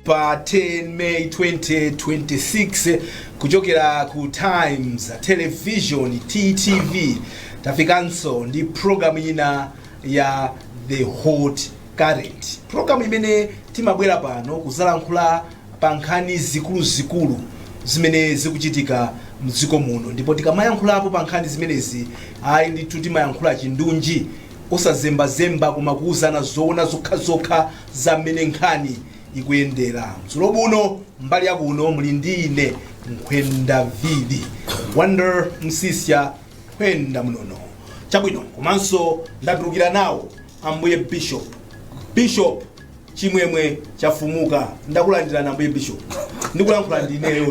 pa 10 May 2026 kuchokera ku Times Television TTV tafikanso ndi program ina ya The Hot Current. Program imene timabwera pano kuzalankhula pa nkhani zikuluzikulu zimene zikuchitika mdziko muno ndipo tikamayankhulapo pa nkhani zimenezi ayi ndithu timayankhula chindunji osazembazemba koma kuuzana zoona zokhazokha za mmene nkhani ikuyendera mdzulo buno mbali ya kuno muli ndi ine nkhwenda vidi Wonder Msiska nkhwenda mnono chabwino komanso ndatulukira nawo ambuye bishop bishop chimwemwe chafumuka ndakulandirani ambuye bishop ndikulankhula ndineyo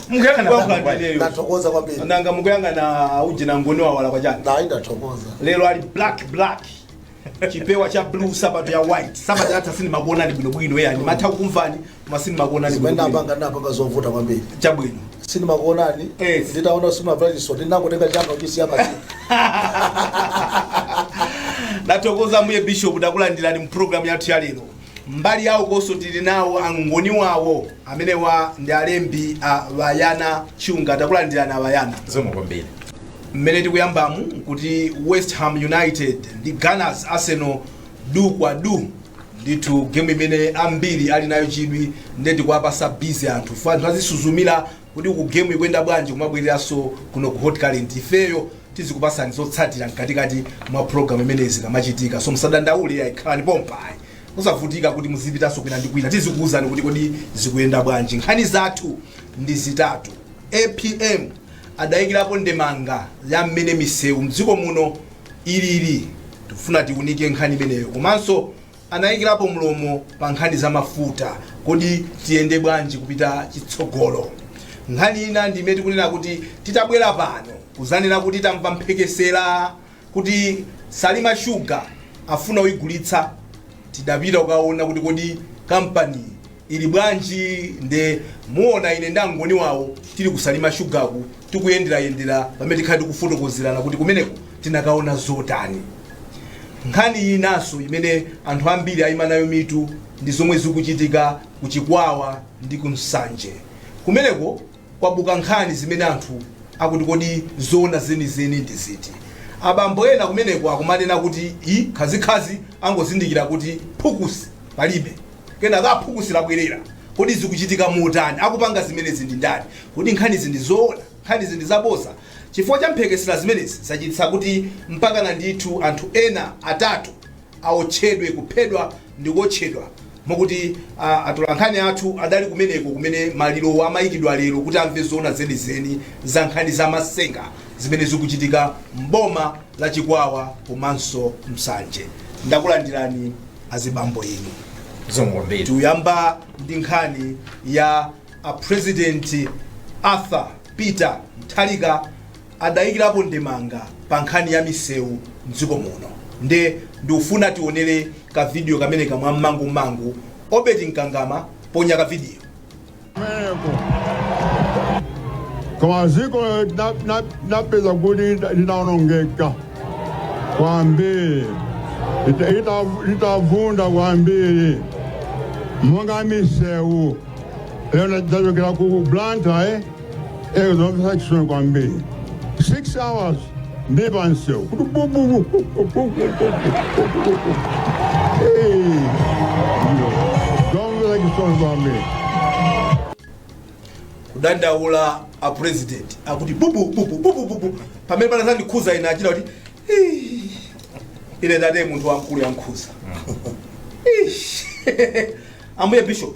Mukuyang'ana ndikulankhula pomwe. ndineyo ndathokoza kwambiri nanga mukuyang'ana ujeni angoni wawo wakwacha ayi ndathokoza lero ali black black chipewa cha blue sapato ya white sapato yatha sindimakuonani bwinobwino yani matha kukumvani koma sindimakuonani zimene bwinobwino ndapanga ndapanga zovuta kwambiri chabwino sindimakuonani Eh. nditaona kuti simunavala chisoti ndinangotenga changa kuchisiya pansi ndathokoza ambuye bishop takulandirani mu programu yathu ya lero mbali yawo konso tili nawo angoni wawo amenewa ndi alembi a bayana chunga takulandirani abayana zikomo kwambiri mmene tikuyambamu kuti west ham united ndi gunners arsenal du kwa du ndithu gemu imene ambiri ali nayo chidwi nde tikuwapasa bizi anthu ife anthu azisuzumira kuti ku gemu ikuyenda bwanji kumabwereranso kuno ku hot current ifeyo tizikupasani zotsatira mkatikati mwa program imeneyi zikamachitika so musadandaule yayi khalani pompayi musavutike kuti muzipitanso kwina ndi kwina tizikuwuzani kuti kodi zikuyenda bwanji nkhani zathu ndi zitatu apm adayikirapo ndemanga ya mmene misewu mdziko muno ilili tikufuna tiunike nkhani imeneyo komanso anayikirapo mlomo pa nkhani za mafuta kodi tiyende bwanji kupita chitsogolo nkhani ina ndi imene tikunena kuti titabwera pano kuzanena kuti tamva mphekesera kuti salima shuga afuna kuyigulitsa tidapita kukaona kuti kodi kampani ili bwanji nde muona ine ndi angoni wawo tili ku salima shugaku tikuyenderayendera pamene tikhale tikufotokozerana kuti kumeneko tinakaona zotani nkhani inanso imene anthu ambiri ayima nayo mitu ndi zomwe zikuchitika ku chikwawa ndi ku nsanje kumeneko Kwabuka nkhani zimene anthu akuti kodi zoona zenizeni ndi ziti? Abambo ena kumeneko akumanena kuti ii Khazikhazi angozindikira kuti phukusi palibe. Kenaka phukusi labwerera. Kodi zikuchitika motani? Akupanga zimenezi ndi ndani? Kodi nkhanizi ndi zoona? Nkhanizi ndi zabodza? Chifukwa cha mphekesera zimenezi zachititsa kuti mpakana ndithu anthu ena atatu. aotchedwe, kuphedwa ndi kuotchedwa mokuti a, atolankhani athu adali kumeneko kumene malirowo amayikidwa lero kuti amve zoona zenizeni za nkhani za matsenga zimene zikuchitika m'boma la Chikwawa komanso Nsanje. Ndakulandirani azibambo inu. Zikomo kwambiri. Tuyamba ndi nkhani ya a President Arthur Peter Mutharika adaikirapo ndemanga pa nkhani ya misewu m'dziko muno nde ndikufuna tionere ka video kameneka mwa mmangu mmangu Obedi Nkangama ponya ka video. Koma dziko ndinapeza kuti linaonongeka kwambiri litavunda kwambiri monga misewu lero ndachoka ku blantyre eh? Eh, zomvetsa chisoni kwambiri 6 hours ndi pansewu kuti bububu zomvetsa chisoni kwambiri kudandaula a president akuti bubu bubu bubu bubu pamene panandikhudza ine achita kuti "Ih, ine ndate munthu wamkulu yamkhudza Ish. ambuye bishop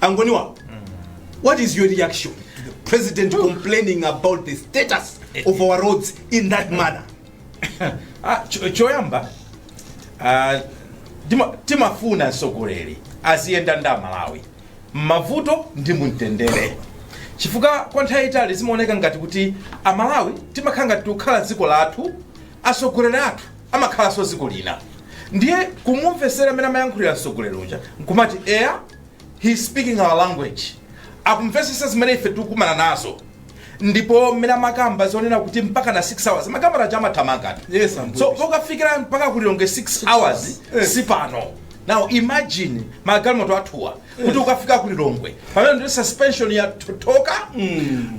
Ang'oniwa what is your reaction to the president complaining about the status of our roads in that manner Ah, cho- choyamba ah, tima- timafuna mtsogoleri aziyenda ndi amalawi mmavuto ndi mumtendere chifukwa kwa nthawi yaitali zimaoneka ngati kuti amalawi timakhala ngati tikukhala dziko lathu atsogoleri athu amakhalanso dziko lina ndiye kumumvesera mmene amayankhulira mtsogoleri uja nkumati eya he is speaking our language akumvesesa zimene ife tikukumana nazo ndipo mmene amakamba zonena kuti mpaka na 6 hours amakamba nacho amathamanga Yes, Ambuye. so pokafikira mpaka ku Lilongwe 6 hours Eh. si pano now imagine magalimoto athuwa kuti ukafika ku lilongwe pamene ndi suspension yatotoka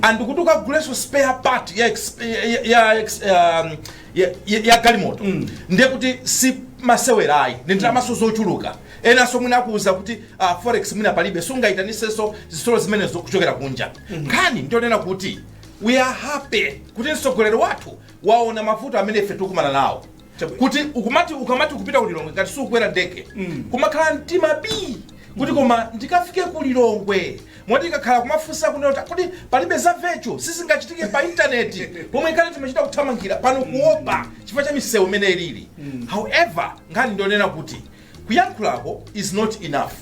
and kuti ukaguleso spare part ya, exp- ya, ya, ex- um, ya, ya, ya galimoto ndiye kuti si masewera ayi ndi ndalamaso zochuluka enanso mwina akuwuza kuti uh, forex mwina palibe sungayitanisenso zitsulo zimenezo kuchokera kunja nkhani ndionena kuti we are happy kuti mtsogoleri wathu waona mavuto amene ife tikukumana nawo Chabwino. kuti ukumati ukamati ukupita ku lilongwe ngati sukukwera ndege Mm. kumakhala mtima bii kuti koma ndikafike ku lilongwe moti ikakhala kumafunsa kunena kuti kodi palibe za virtual sizingachitike pa intaneti pomwe kale timachita kuthamangira pano kuopa chifukwa cha misewu imene ilili however nkhani ndionena kuti kuyankhulako is not enough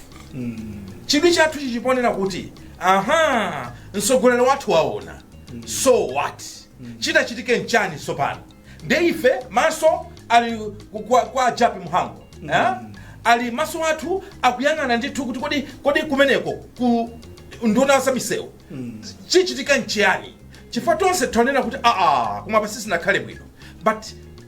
chidwi chathu chili ponena kuti aha mtsogoleri wathu waona so what chitachitike nchani sopano nde ife maso ali ku- kwa, kwa ajapi mhango eh? ali maso athu akuyang'ana ndithu kuti kodi kodi kumeneko ku nduna za misewu chichitika nchiyani chifukwa tonse taona kuti aa koma pansi sinakhale bwino but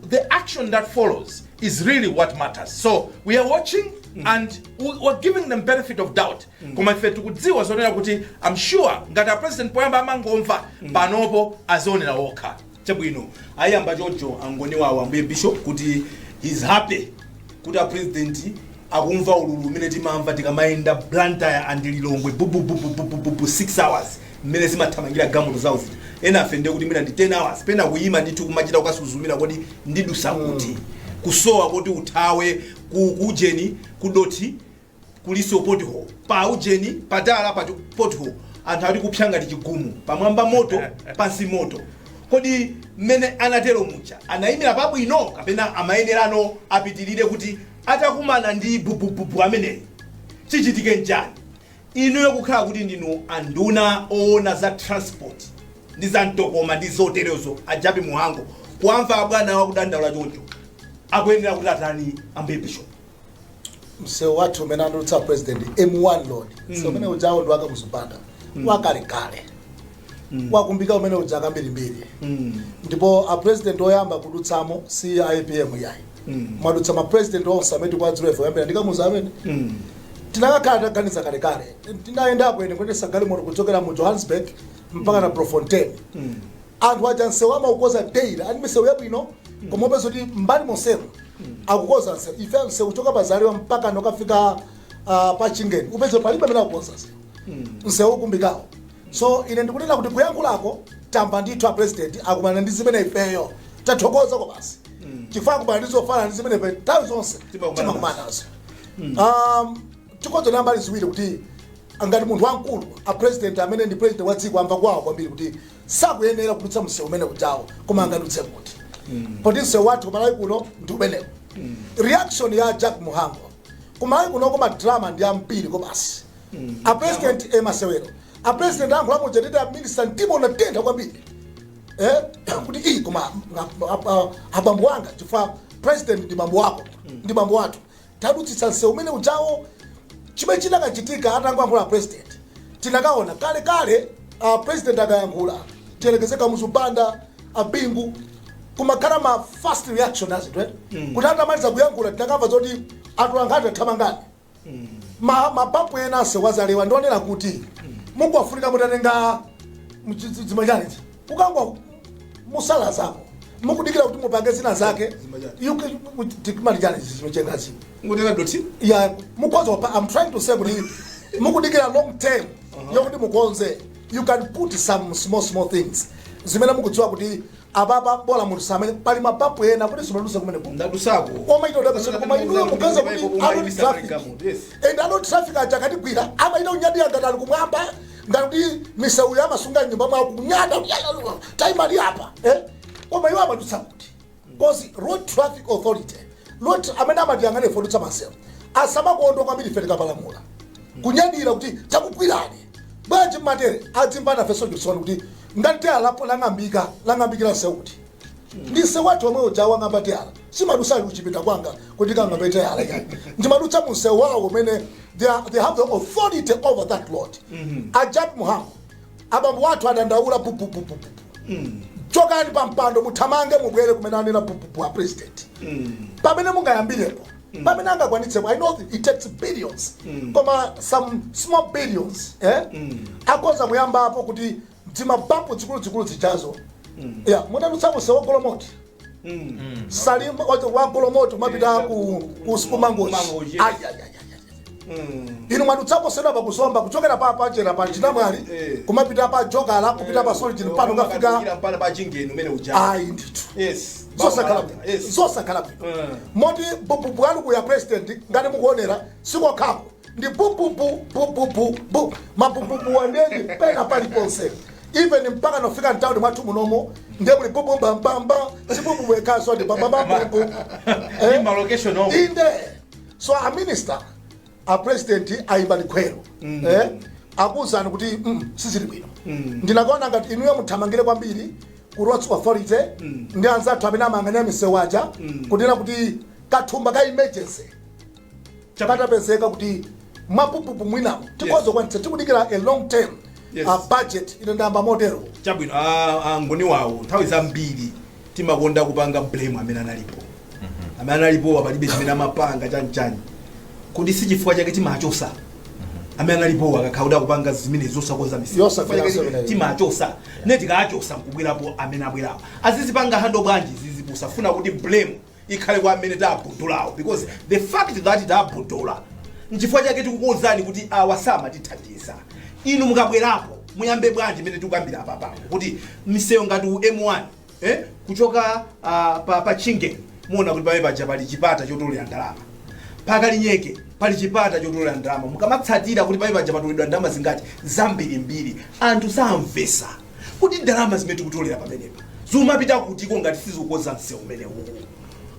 the action that follows is really what matters so we are watching and we- we're giving them benefit of doubt koma ife tikudziwa zonena kuti i'm sure ngati a president poyamba amangomva panopo azionera wokha Chabwino ayamba choncho angoniwo ambuye bishop kuti he's happy kuti a president akumva ululu umene timamva tikamayenda Blantyre and Lilongwe bububububububu 6 hours mmene zimathamangira galimoto zawo zija ena afe ndiye kuti mwina ndi 10 hours pena kuyima ndithu kumachita kukasuzumira kodi ndidutsa kuti kusowa koti uthawe ku kujeni ku dothi kulinso pothole pa ujeni patala pothole anthu ali kupsa ngati chigumu pamwamba moto pansi moto kodi mmene anatero muja anayimira pabwino kapena amayenerano apitirire kuti atakumana ndi bubububu ameneyi chichitike nchani inuyo kukhala kuti ndinu anduna oona za transport ndi za mtokoma ndi zoterezo ajapi muhango kuwamva abwana akudandaula choncho akuyenera kuti atani ambuye bishop msewu wathu umene anadutsa a president m1 road msewu umene ujawo ndi wa kamuzu banda wakalekale wakumbika umene uja kambirimbiri ndipo a president oyamba kudutsamo si apm yayi mwadutsa ma president onse amene tikuwadziwa ife kuyambira ndi kamuzu amene tinakakhala titaganiza kalekale tinayendapo ine kuyendetsa galimoto kuchokera mu johannesburg mpaka na bloemfontein anthu aja msewu amaukoza daily ali misewu yabwino koma upeza kuti mbali monsemo akukoza msewu ife msewu kuchoka pa zalewa mpaka nokafika uh, pa chingeni upeza palibe amene akukoza msewu msewu ukumbikawo so ine ndikunena kuti kuyankhulako tamva ndithu a president akumana ndi zimene ifeyo tathokoza kobasi chifukwa akumana ndi zofana ndi zimene ife nthawi zonse timakumana nazo um, tikuziona mbali ziwiri kuti ngati munthu wamkulu a president amene ndi president wa dziko amva kuwawa kwambiri kuti sakuyenera kudutsa msewu umene ujawo koma angadutse kuti poti msewu wathu kumalawi kuno ndi umenewo reaction ya japi mhango kumalawi kuno ko madrama ndi ambiri kobasi a president e masewero a president ayankhula muja nditi a minister mtima unatentha kwambiri eh, kuti iyi koma nga- a- a- abambo wanga chifukwa president ndi bambo wako ndi bambo wathu tawadutsitsa msewu umene ujawo chimene chinakachitika atangoyankhula a president tinakaona kale kale a president akayankhula tiyerekeze kamuzu banda abingu kumakhala ma fast reaction a zinthu eh? kuti atamaliza kuyankhula tinakamva zoti anthu ankhani athamangani ma mapapu ena msewu wa zalewa ndionera kuti mukuwafunika mutatenga mchizimachanizi kukangomusalazako mukudikira kuti mupange zina zake you can- with- tikimali chani zimichengazi ngothira dothi ya mukonze wapa i'm trying to say kuti mukudikira long term yokuti mukonze you can put some small small things zimene mukudziwa kuti apapa bola munthu samene pali mabampu ena kuti simaduse kumene kuno ndadusako omaita udakasoni koma inuyo mupeza kuti a road traffic and a road traffic aja akatigwira amaita kunyadira ngati ali kumwamba ngati kuti miseuyo amasunga mnyumba mwawo kunyada taimani apa eh? koma iwo amadutsa kuti because road traffic authority road tra- amene amatiyang'ana ife odutsa mmiseu asamakonda kwambiri ife tikapalamula kunyadira kuti takugwirani bwanji mateyala adzimva nafenso chisoni kuti ngati teyalapo lang'ambika lang'ambikira seu uti Ndi seu wathu omwe uja wang'amba teyala simadusa kuchipinda kwanga kuti nkang'ambe teyala iyayi ndimadutsa munsewu wawo umene they, are, they have the authority over that road a Jappie Mhango abambo wathu adandaula pupupupupu chokani pa mpando muthamange mubwere kumene anena pupupu a president pamene mungayambirepo pamene angakwanitsepo i know it takes billions koma some small billions eh? akoza kuyambapo kuti dzimabampu dzikuluzikulu zijazo ya munadutsako seu wa golomoti salima wacho wa golomoti umapita ku ku si ku mangochi Mangochi. Ai, ai, ai, ai. inu mwadutsapo sewu wa ku zomba kuchokera pa pachera pa chinamwali Eh. kumapita pa jokala kupita pa solijini pano kafika mpana pa chingeni umene uja ayi ndithu yes zosakhala bwino yes zosakhala bwino Mm. moti pupupu wanu uja president ngati mukuonera si kokhako ndi pupupu pupupu bu mapupupuwa nde ndi pena paliponse even mpaka nofika mtawuni mwathu munomo nde muli pupu bambamba si pupupu yekhaso ndi bambamba pupu Ndi ma location omwe. inde so a minister a president ayimba likhweru eh, akuwuzani kuti mm, sizili bwino ndinakaona ngati inuyo muthamangire kwambiri ku roads authority ndi anzathu amene amayang'anira misewu aja kunena kuti kathumba ka emergency katapezeka kuti mapupupu mwinapo tikhoza kwanitsa tikudikira a long term Yes. a budget ino ndayamba motero chabwino a- a ngoni wawo nthawi zambiri timakonda kupanga blame amene analipo amene analipo palibe chimene amapanga chanchani kuti si chifukwa chake timachosa amene analipo akakhala kuti akupanga zimenezo zosakonza Yosakonza Chifukwa chake zimene- timachosa ne tikachosa nkubwerapo amene abwerapo azizipanga handle bwanji izi posafuna kuti blame ikhale kwa amene tabudulawo because the fact that tabudula nchifukwa chake tikukuuzani kuti awa samatithandiza inu mukabwerapo muyambe bwanji mmene tikukambira apapa kuti miseuyo ngati u m1 eh, kuchoka uh, pa, pa chingeni muona kuti pamene paja pali chipata chotolera ndalama pa kalinyeke pali chipata chotolera ndalama mukamatsatira kuti pamene paja patoledwa ndalama zingati zambirimbiri anthu samvesa kodi ndalama zimene tikutolera pamenepa zimapita kutiko ngati sizikukonza msewu umenewu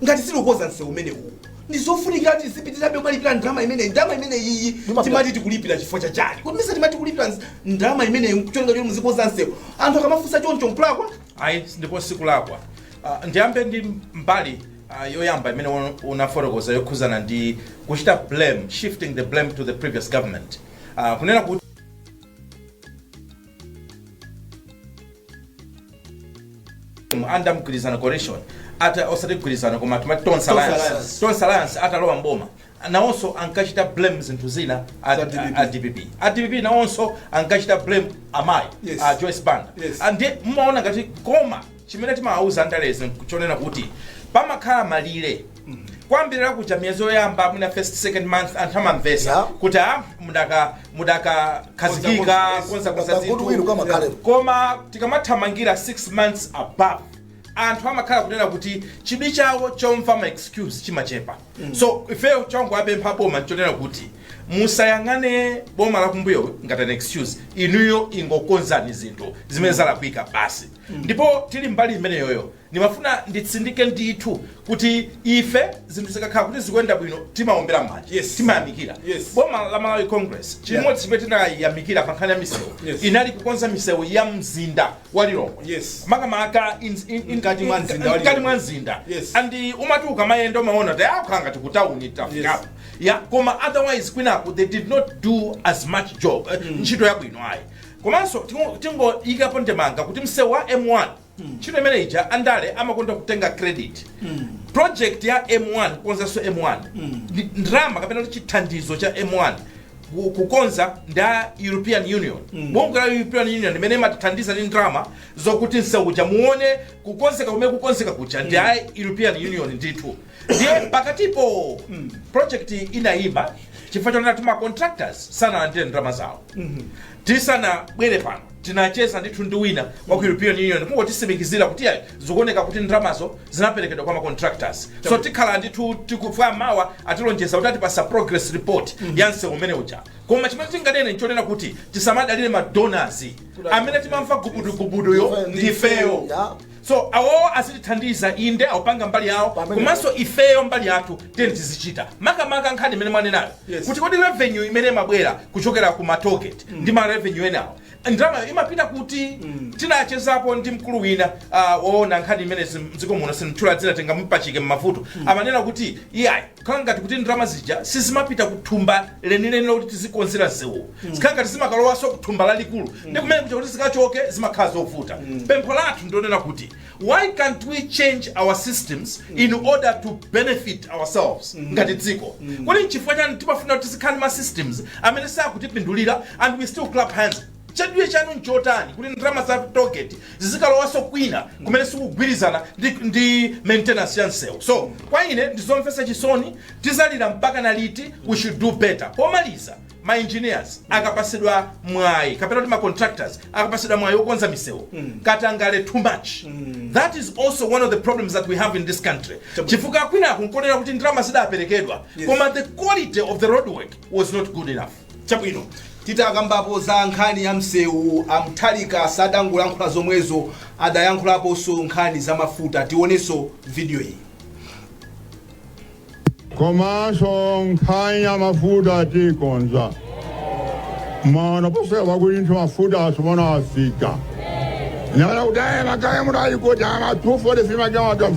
ngati sizikukonza msewu umenewu ndi zofunika kuti zipitirabe kumalipira ndalama imeneyi ndalama imeneyiyi timati tikulipira chifukwa cha chani kodi nesa timati kulipira ns- ndalama imeneyi kuchonga choti muzikonza msewu anthu akamafunsa choncho nkulakwa ayi ndipo sikulakwa Ah, ndiyambe ndi mbali ah, yoyamba imene un- unafotokoza yokhuzana ndi kuchita blame shifting the blame to the previous government Ah, kunena kuti anda mgwirizano coalition ata osati mgwirizano koma timati tonse alliance Alliance. tonse alliance atalowa mboma nawonso ankachita blame zinthu zina a- Za DPP. a dpp a dpp nawonso ankachita blame amayi Yes. a joyce banda Yes. Ah, ndiye mmaona ngati koma chimene timawauza andale nchonena kuti pamakhala malire koyambirira kuja miyezi yoyamba mwina first second month anthu amamvesa Yeah. kuti a mudaka mudakakhazikika konza konza Kagulu zinthu wina kamakhale. koma tikamathamangira 6 months above anthu amakhala kunena kuti chidwi chawo chomva ma excuse chimachepa so ifeyo chongowapempha boma nchonena kuti musayang'ane boma lakumbuyo ngati an excuse inuyo ingokonzani zinthu zimene zalakwika basi ndipo tili mbali imeneyoyo Ndimafuna nditsindike ndithu kuti ife zinthu zikakhala kuti zikuyenda bwino timaombera mmanja Yes. timayamikira Yes. boma la malawi congress chimodzi chimene tinayamikira pa nkhani ya misewu Yes. inali kukonza misewu ya mzinda wa lilongwe Yes. makamaka in- in- in- Mkati mwa mzinda wa mkati Lilongwe. mwa mzinda Yes. and umati ukamayenda umaona kuti zakhala ngati ku tawuni tafikapo ya koma otherwise kwinaku they did not do as much job eh, ntchito yabwino ayi komanso tingo- tingoyikapo ndemanga kuti msewu wa m1 ntchito imene ija andale amakonda kutenga credit project ya m1 kukonzanso m1 ndi ndalama kapena kuti chithandizo cha m1 ku- kukonza ndi a european union bungwe la european union limene imatithandiza ndi ndalama zokuti mseu uja muone kukonzeka kumene kukonzeka kuja ndi a european union ndithu ndiye pakatipo project inayima chifukwa chonena kuti ma contractors sanalandire ndalama zawo tisanabwere pano tinacheza ndithu ndi wina wa ku european union kungotitsimikizira kuti ayi zikuoneka kuti ndalamazo zinaperekedwa kwa macontractors so tikhala ndithu tikufuna mawa atilonjeza kuti atipasa progress report ya msewu umene uja koma chimene tinganene nchonena kuti tisamadalire madonors amene timamva gubudugubuduyo ndifeyo Yeah. So awowo azitithandiza inde akupanga mbali yawo Pamene- komanso ifeyo mbali yathu tiyeni tizichita makamaka nkhani imene mwanenayo Yes. kuti kodi revenue imene imabwera kuchokera ku ma toll gate ndi ma revenue enawo ndalamayo imapita kuti tinachezapo ndi mkulu wina ah, woona nkhani imene zim- mdziko muno sinditchula dzina tingamupachike mmavuto amanena kuti iyayi Zikhala ngati kuti ndalama zija sizimapita ku thumba lenileni loti tizikonzera msewuwo. Zikhala ngati zimakalowanso ku thumba lalikulu. Ndi kumene kuja kuti zikachoke zimakhala zovuta. Pempho lathu ndi lonena kuti why can't we change our systems in order to benefit ourselves ngati dziko? Kodi n'chifukwa chani timafuna kuti tizikhala ndi ma systems amene sakutipindulira and we still clap hands? Chidwi chanu nchotani kuti ndalama za toll gate zizikalowanso kwina kumene sikugwirizana ndi ndi maintenance ya msewu? So, kwa ine ndi zomvetsa chisoni, tizalira mpakana liti? We should do better. Pomaliza, ma engineers akapatsidwa mwayi kapena kuti ma contractors akapatsidwa mwayi wokonza misewu katangale too much that is also one of the problems that we have in this country chifukwa kwinaku nkonena kuti ndalama zidaperekedwa koma the quality of the road work was not good enough Chabwino, titakambapo za nkhani ya mseu, a Mutharika sadangolankhula zomwezo, adayankhulaponso nkhani za mafuta. Tionenso video iyi. komanso nkhani ya mafuta tikonza mano posachedwapa kuti nthu mafuta asowa afika nanga kuti ma tanker muno ayi kuti ma 243 ma tanker atu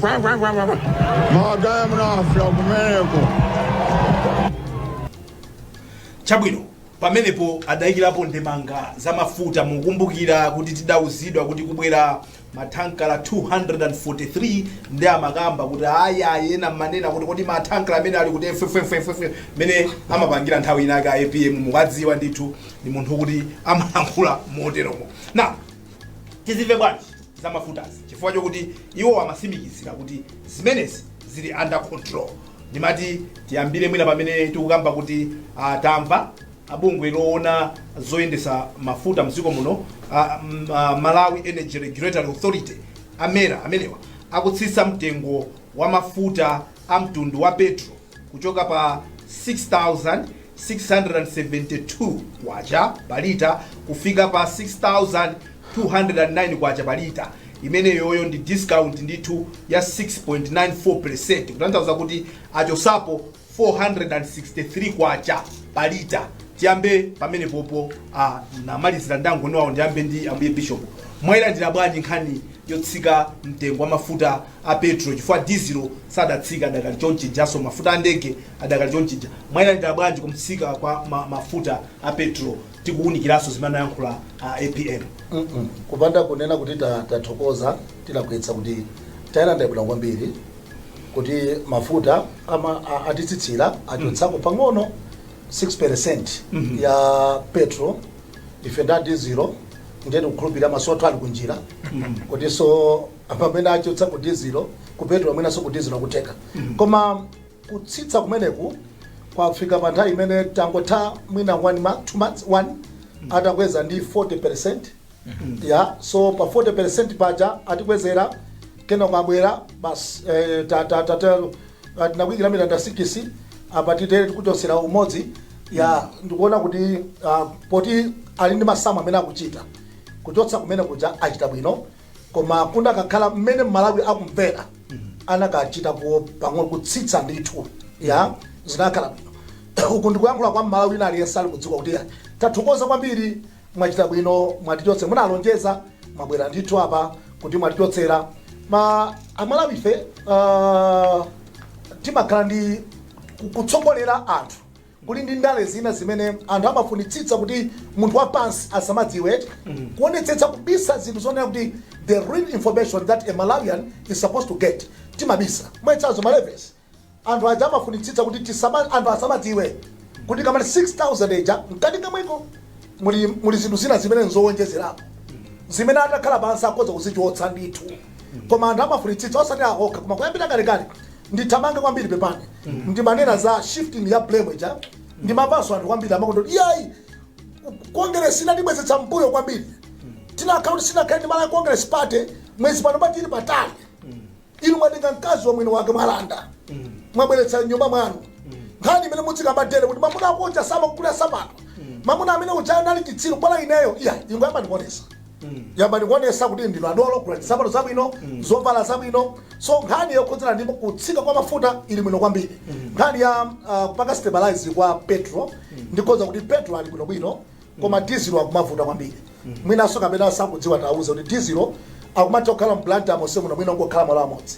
ma tanker muno afika kumeneko chabwino pamenepo adayikirapo ndemanga za mafuta mukumbukira kuti tidauzidwa kuti kubwera mathankala 243 ndi amakamba kuti ayi ena mmanena kuti kodi mathankala amene ali kuti fwefwefwefwe mmene amapangira nthawi inake a apm mukuwadziwa ndithu ndi munthu kuti amalankhula moteromo na tizimve bwanji za mafutazi chifukwa chokuti iwo amatsimikizira kuti zimenezi zili under control Ndimati tiyambire mwina pamene tikukamba kuti ah, tamva ah, bungwe loona zoyendetsa mafuta mdziko muno ah, mm, ah, Malawi Energy Regulatory Authority a MERA amenewa akutsitsa mtengo wa mafuta a mtundu wa petro kuchoka pa K6,672 pa lita kufika pa K6,209 pa lita, imeneyoyo ndi discount ndithu ya 6.94 percent, kutanthauza kuti achotsapo K463 pa lita. Tiyambe pamenepopo, ndimalizira ndi a Ngoniwawo, ndiyambe ndi Ambuye Bishop, mwayilandira bwanji nkhani yotsika mtengo wa mafuta a petro chifukwa dizilo sadatsike adakali chonchija, nso mafuta a ndege adakali chonchija mwayilandira bwanji kutsika kwa ma, mafuta a petro tikuwunikiranso zimene anayankhula a apm Mm-mm. kupanda kunena kuti ta- tathokoza tinganenetse kuti tayilandira bwino kwambiri kuti mafuta ama- a- atitsitsira achotsako pang'ono 6 percent ya petro ife ndi a dizilo ndiye tikukhulupirira masoto ali kunjira kutinso pamene achotsa ku dizilo ku petro mwinanso ku dizilo akutheka koma Kutsitsa kumeneku kwafika pa nthawi imene tangotha mwina 1 month, 2 months, 1 atakweza ndi 40%, yeah, so pa 40% paja atikwezera kenako abwera basi eh, ta- ta- ta- ta- ah, tinakuikira mitanda sikisi apa tiyeni tikuchotsera umodzi ya ndikuona kuti ah, poti ali ndi masamu amene akuchita kuchotsa kumene kuja achita bwino koma kudakakhala mmene mmalawi akumvera anakachitako pang'ono kutsitsa ndithu ya zinakhala bwino uku ndikuyankhula kwa mmalawi wina aliyense ali kudziwa kuti ya tathokoza kwambiri mwachita bwino mwatichotse munalonjeza mwabwera ndithu apa kuti mwatichotsera koma amalawife uh, timakhala ndi ku- kutsogolera anthu Kuli ndi ndale zina zimene anthu amafunitsitsa kuti munthu wa pansi asamadziwe, kuonetsetsa kubisa zinthu zonena kuti the real information that a Malawian is supposed to get timabisa. Mwachitsanzo ma levies, anthu aja amafunitsitsa kuti tisama, anthu asamadziwe kuti akamati 6000 ija mkati kamweko muli, muli zinthu zina zimene nzowonjezerapo zimene atakhala pansi akhoza kuzichotsa ndithu koma anthu amafunitsitsa osati awa okha koma kuyambira kalekale ndithamange kwambiri pepani ndimanena za shifting ya blame ija ndimamvanso anthu kwambiri amakonda iyayi kongeresi inatibwezetsa mbuyo kwambiri tinakhala kuti sinakhale ndi malawi congress party mwezi pano patili patali inu mwatenga mkazi wa mwini wake mwalanda mwabweretsa mnyumba mwanu nkhani imene mudzikamba tere kuti mamuna ako uja samakugulira nsapato mamuna amene uja anali chitsiru bola ineyo iyayi ingoyambani kuonesa yambani kuonesa kuti ndinu adolo gulani nsapato zabwino zovala zabwino so nkhani yokhudzana ndi kutsika kwa mafuta ili bwino kwambiri nkhani ya uh, kupanga stabilize kwa petro ndikhoza kuti petro ali bwinobwino koma dizilo akumavuta kwambiri mwinanso kapena akudziwa atiuza kuti dizilo akumatha kukhala mblantyre monse muno mwina kukhala malo amodzi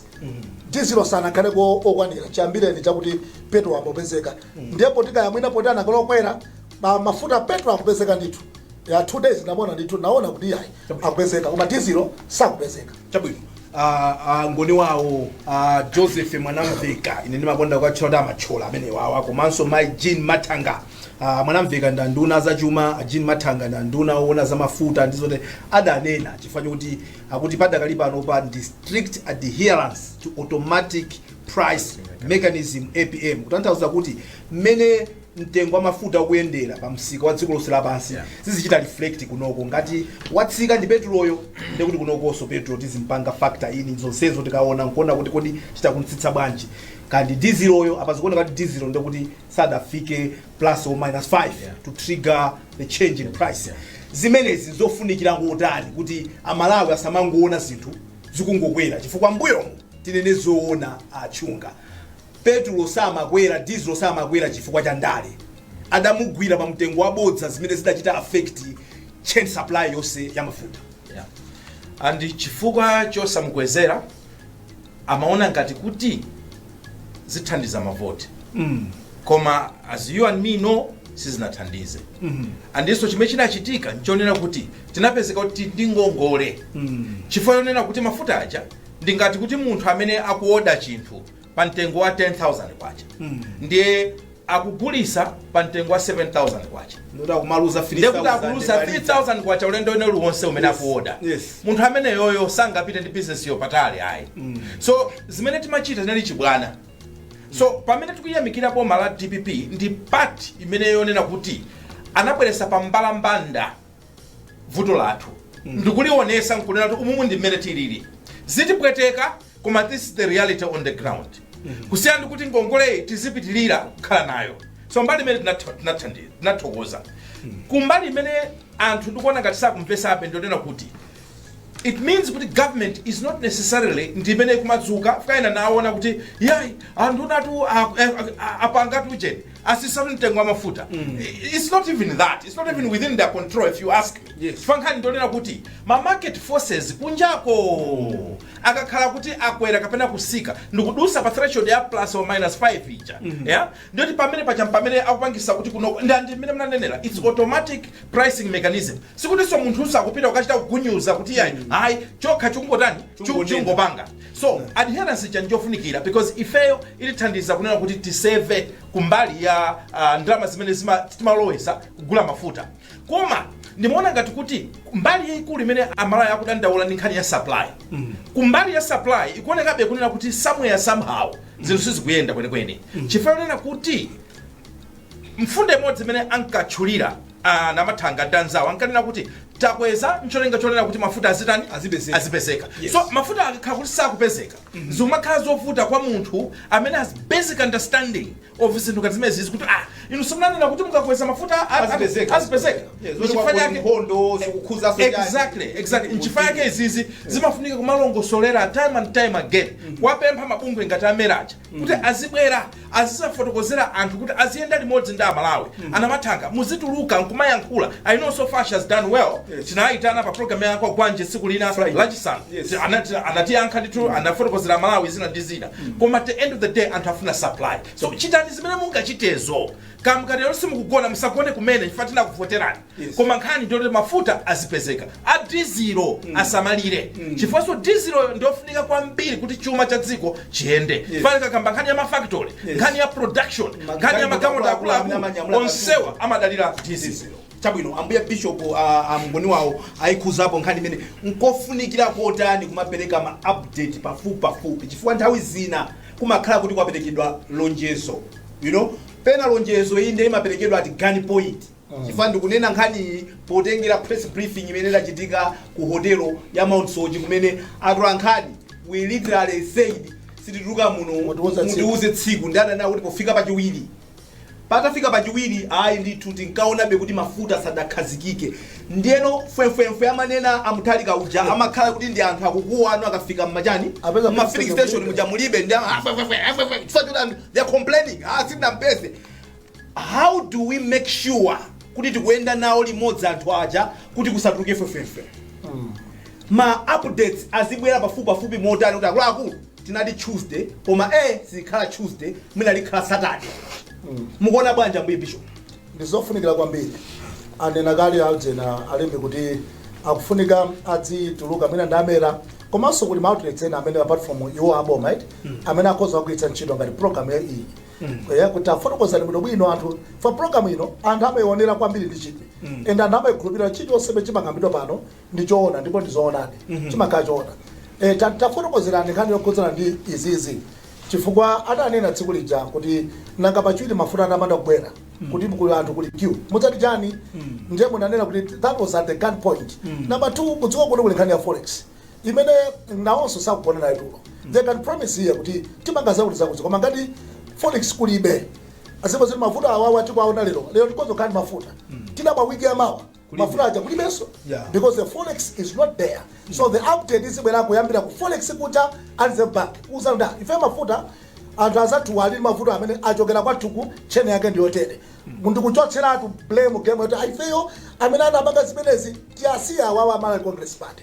dizilo sanakhaleko okwanira chiyambireni chaka koma petro akupezeka ndipo kaya mwina poti anakalokwera ma mafuta petro akupezeka ndithu ya two days ndamona ndithu naona kuti yayi akupezeka koma dizilo sakupezeka chabwino ah, ah, ngoni wawo ah, joseph mwanamveka ine ndimakonda kuwatchula kuti amatchona amene wawa komanso mai jean mathanga ah, mwanamveka ndi nduna zachuma a jean mathanga ndi nduna owona za mafuta ndi zote adanena chifukwa chokuti akuti padakali pano pali strict adherence to automatic price mechanism apm kutanthauza kuti mmene mtengo wa mafuta ukuyendera pa msika wa dziko lonse lapansi Yeah. zizichita reflect kunoko ngati watsika ndi petuloyo ndi kuti kunokonso petulo tizimpanga factor in zonsezo tikaona nkuona kuti kodi tichita kumutsitsa bwanji kaya ndi diziloyo apa zikuoneka kuti dizilo ndi kuti sadafike plus or minus 5 Yeah. to trigger the change in price Yeah. zimenezi nzofunikira kotani kuti amalawi asamangoona zinthu zikungokwera chifukwa mbuyomu tinene zoona achunga Petulo samakwera dizilo samakwera chifukwa cha ndale adamugwira pa mtengo wa bodza zimene zidachita affect chain supply yonse ya mafuta. Yeah. And chifukwa chosamukwezera amaona ngati kuti zithandiza mavoti mm. koma as you and me know sizinathandize mm -hmm. andiso chimene chinachitika nchonena kuti tinapezeka tili ndi ngongole mm. chifukwa yonena kuti mafuta aja ndingati kuti munthu amene akuoda chinthu pa mtengo wa 10000 kwacha ndiye akugulisa pa mtengo wa 7000 kwacha ndekuti akumaluza 3000 kwacha ulendo wina uliwonse umene akuoda Yes. munthu ameneyoyo sangapite ndi bizinesiyo patali ayi so zimene timachita zinali chibwana so pamene tikuyamikira boma la dpp ndi pati imene yonena kuti anabweresa pa mbalambanda vuto lathu ndikuliwonesa nkunena kuti umumu ndi mmene tilili zitipweteka koma this is the reality on the ground kusiyana ndi kuti ngongoleyi tizipitirira kukhala nayo so mbali imene tinatha- tinathandi- tinathokoza kumbali imene anthu ndikuona ngati sakumvesabe ndionena kuti it means kuti government is not necessarily ndi imene ikumadzuka fwakaena naona kuti yayi anthu nnatu a- a- a- apanga tujeni asisa mtengo wa mafuta mm. it's not even that it's not even within their control if you ask me Yes. Fuka nkhani ndi yonena kuti ma market forces kunjako akakhala kuti akwera kapena kusika ndikudusa pa threshold ya plus or minus 5 ija yeah ndiyoti pamene pacha pamene akupangisa kuti kuno ndi mmene mnanenera it's automatic pricing mechanism sikutinso munthu usakupita ukachita kugunyuza kuti yayi ayi chokha chungotani Chungonena. chungopanga So adherence yache njofunikira because ifeyo itithandiza kunena kuti tiseve kumbali ya ah, ndalama zimene zima- timalowesa kugula mafuta koma ndimaona ngati kuti mbali yayikulu imene aMalawi akudandaula ndi nkhani ya supply kumbali ya supply ikuonekabe kunena kuti somewhere somehow zinthu sizikuyenda kwenikweni chifukwa yonena kuti Mfundo imodzi imene ankatchulira a Namathanga ndi anzawo ankanena kuti takweza ncholinga chonena kuti mafuta azitani? Azipezeka. Azipezeka. Yes. So mafuta akakhala kuti sakupezeka zikumakhala zovuta kwa munthu amene has basic understanding of zinthu ngati zimenezi kuti ah, inu simunanena kuti mukakweza mafuta a- a- Azipezeka. azipezeka. Yes, Ndiye zoti chifukwa kwakuti chake- nkhondo zikukhudzaso chani. Exactly, exactly. Nchifukwa yake izizi zimafunika kumalongosolera time and time again kuwapempha mabungwe ngati a MERA aja kuti azibwera azisafotokozera anthu kuti aziyenda limodzi ndi aMalawi a Namathanga muzituluka nkumayankhula i know so far she has done well Yes. tinayitana pa program ya Gwanje tsiku lina Friday. lachisanu Yes. Ti- anati- anatiyankha ndithu anafotokozera aMalawi zina ndi zina koma at the end of the day anthu afuna supply so chitani zimene mungachitezo kaya mukatero simukugona musagone kumene chifukwa tinakuvoterani Yes. koma nkhani ndiyoti mafuta azipezeka a dizilo asamalire chifukwanso diziloyo ndiyofunika kwambiri kuti chuma cha dziko chiyende fani kakamba nkhani ya mafactory Yes. nkhani ya production Ma- nkhani ya magalimoto magalimoto akuluakulu amene amanyamula akuluakulu onsewa amadalira dizilo chabwino ambuye bishop a- a mngoni wawo ayikhuzapo nkhani imene nkofunikira kotani kumapereka ma update pafupi pafupi chifukwa nthawi zina kumakhala kuti kwaperekedwa lonjezo you know pena lonjezo iyi ndiye imaperekedwa at gun point chifukwa ndikunena nkhaniyi potengera press briefing imene idachitika ku hotelo ya Mount Soche kumene atolankhani we literally said sitituka muno Mutiuze tsiku. mutiuze tsiku ndi adanena kuti pofika pachiwiri patafika pachiwiri ayi ndithu tinkaonabe kuti mafuta sadakhazikike ndiyeno fwemfwemfwe amanena a Mutharika uja amakhala kuti ndi anthu akukuwa anthu akafika mmachani Apeza mma filling filling station station. muja mulibe ndi ama- ah, fwe, fwe, fwe, ah, fwe, fwe. Chifukwa choti anthu, they are complaining ah sitinampeze How do we make sure kuti tikuyenda nawo limodzi anthu aja kuti kusatuluke fwefwefwe ma updates azibwera pafupipafupi motani kuti akuluakulu tinati tuesday koma e sikhala tuesday mwina likhala saturday mukuona bwanji ambuye bishop ndizofunikira kwambiri anena kale aljena alembe kuti akufunika adzituluka mwina nda MERA komanso kuli maoutlets ena amene apart from iwo aboma right amene akhoza kugwiritsa ntchito ngati program ya iyi Eh, kuti tafotokozani bwinobwino anthu for program ino anthu amaionera kwambiri ndi chidwi and anthu amaikhulupirira chilichonse chimene chimakambidwa pano ndi choona ndipo ndi zoonadi chimakhala choona Eh, ta- tafotokozerani nkhani yokhudzana ndi izizi chifukwa adanena tsiku lija kuti nanga pachiwiri mafuta atapanda kubwera kuti kuli anthu kuli queue mudzati chani ndiye munanena kuti that was at the gun point number two kudziwa kuti kuli nkhani ya forex imene nawonso sakugona nayo tulo they can promise here kuti tipanga zakuti zakuti koma ngati forex kulibe azimba zoti mavuto awawa tikuwaona lero lero tikhoza kukhala ndi mafuta tidabwa wiki yamawa mafuta aja kulibenso Yeah. because the forex is not there so the update izibwera kuyambira ku forex kuja and the bank uzanda ife mafuta anthu azathu ali ndi mavuto amene achokera kwathuku tchene yake ndiyotere ndikuchotseratu blame game yoti aifeyo amene anapanga zimenezi tiyasiya awawa a Malawi Congress Party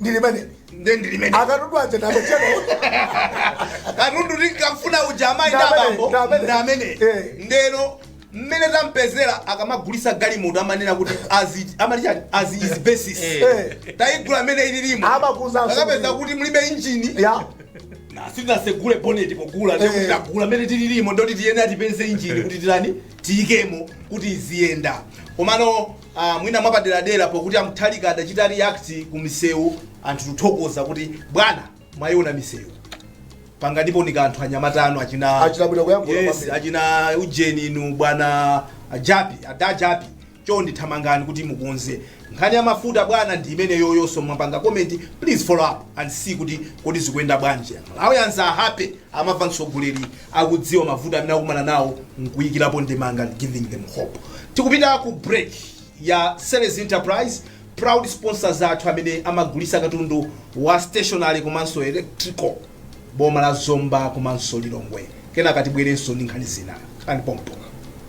ndilimene nde ndilimene akatundu aja ndamachena katundu tinkamfuna uja amayi ndi Ndamene, abambo ndamene. ndamene Eh. ndeno mmene tampezera akamagulisa galimoto amanena kuti as amati chani as is basis Eh. tayigula mmene ililimo Amakuza asumbu. akapeza kuti mulibe injini ya sitinasegule boneti pogula Eh. ndekuti tagula mmene tililimo ndoti tiyeni tipeze injini kuti titani tiyikemo kuti iziyenda komano a mwina mwapaderadera pokuti a Mutharika adachita react ku misewu anthu tuthokoza kuti bwana mwaiona misewu panganipo ni kanthu anyamata anu achina ujeni inu bwana Jappie Dada Jappie chondi thamangani kuti mukonze nkhani ya mafuta bwana ndi imeneyonso mwapanga comment please follow up and see kuti kodi zikuyenda bwanji malawians are happy amamva mtsogoleri akudziwa mavuto amene akumana nawo nkuyikirapo ndemanga and giving them hope tikupita ku break ya series enterprise proud sponsors athu amene amagulisa katundu wa stationary komanso electrical boma la zomba komanso lilongwe kenaka tibwerenso ndi nkhani zina khalani pompo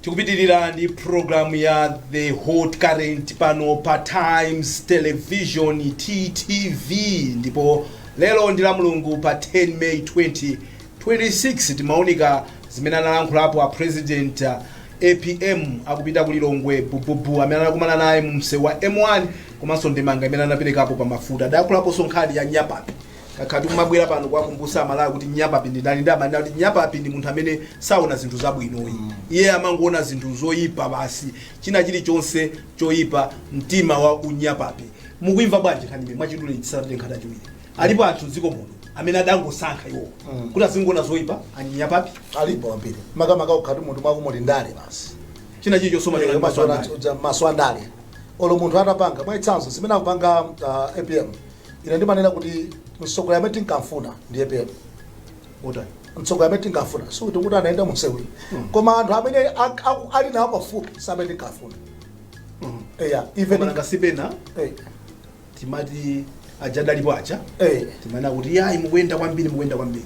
tikupitirira ndi programu ya the hot current pano pa times television ttv ndipo lero ndi la mulungu pa 10 may 20 26 timaunika zimene analankhulapo a president apm akupita ku lilongwe bububu amene anakumana naye mu msewu wa m1 komanso ndemanga imene anaperekapo pa mafuta adayankhulaponso nkhani ya nyapapi takhala tikumabwera pano kuwakumbusa amalawi kuti nyapapi ndi ndani ndimanena kuti nyapapi ndi munthu amene saona zinthu zabwinoyi iye amangoona zinthu zoyipa basi china chilichonse choyipa mtima wa unyapapi mukuimva bwanji nkhaniyi mwachidule tisanapite nkhani yachiwiri alipo anthu mdziko muno amene adangosankha iwo kuti azingoona zoyipa anyapapi alipo ambiri makamaka ukakhala kuti munthu mwako muli ndale basi china chilichonse maso Eh, maso ana- uja- maso andale olo munthu atapanga mwachitsanzo zimene akupanga uh, apm ine ndimanena kuti mtsogoleri amene tinkamfuna ndi apm otani mtsogoleri amene tinkamfuna sikuti anaenda mumsewu yayi koma anthu amene ak- aku- ali nawo pafupi samene tinkamfuna eya even mananga sipena eh, timati aja adalipo aja Eh. timanena kuti yayi mukuyenda kwambiri mukuyenda kwambiri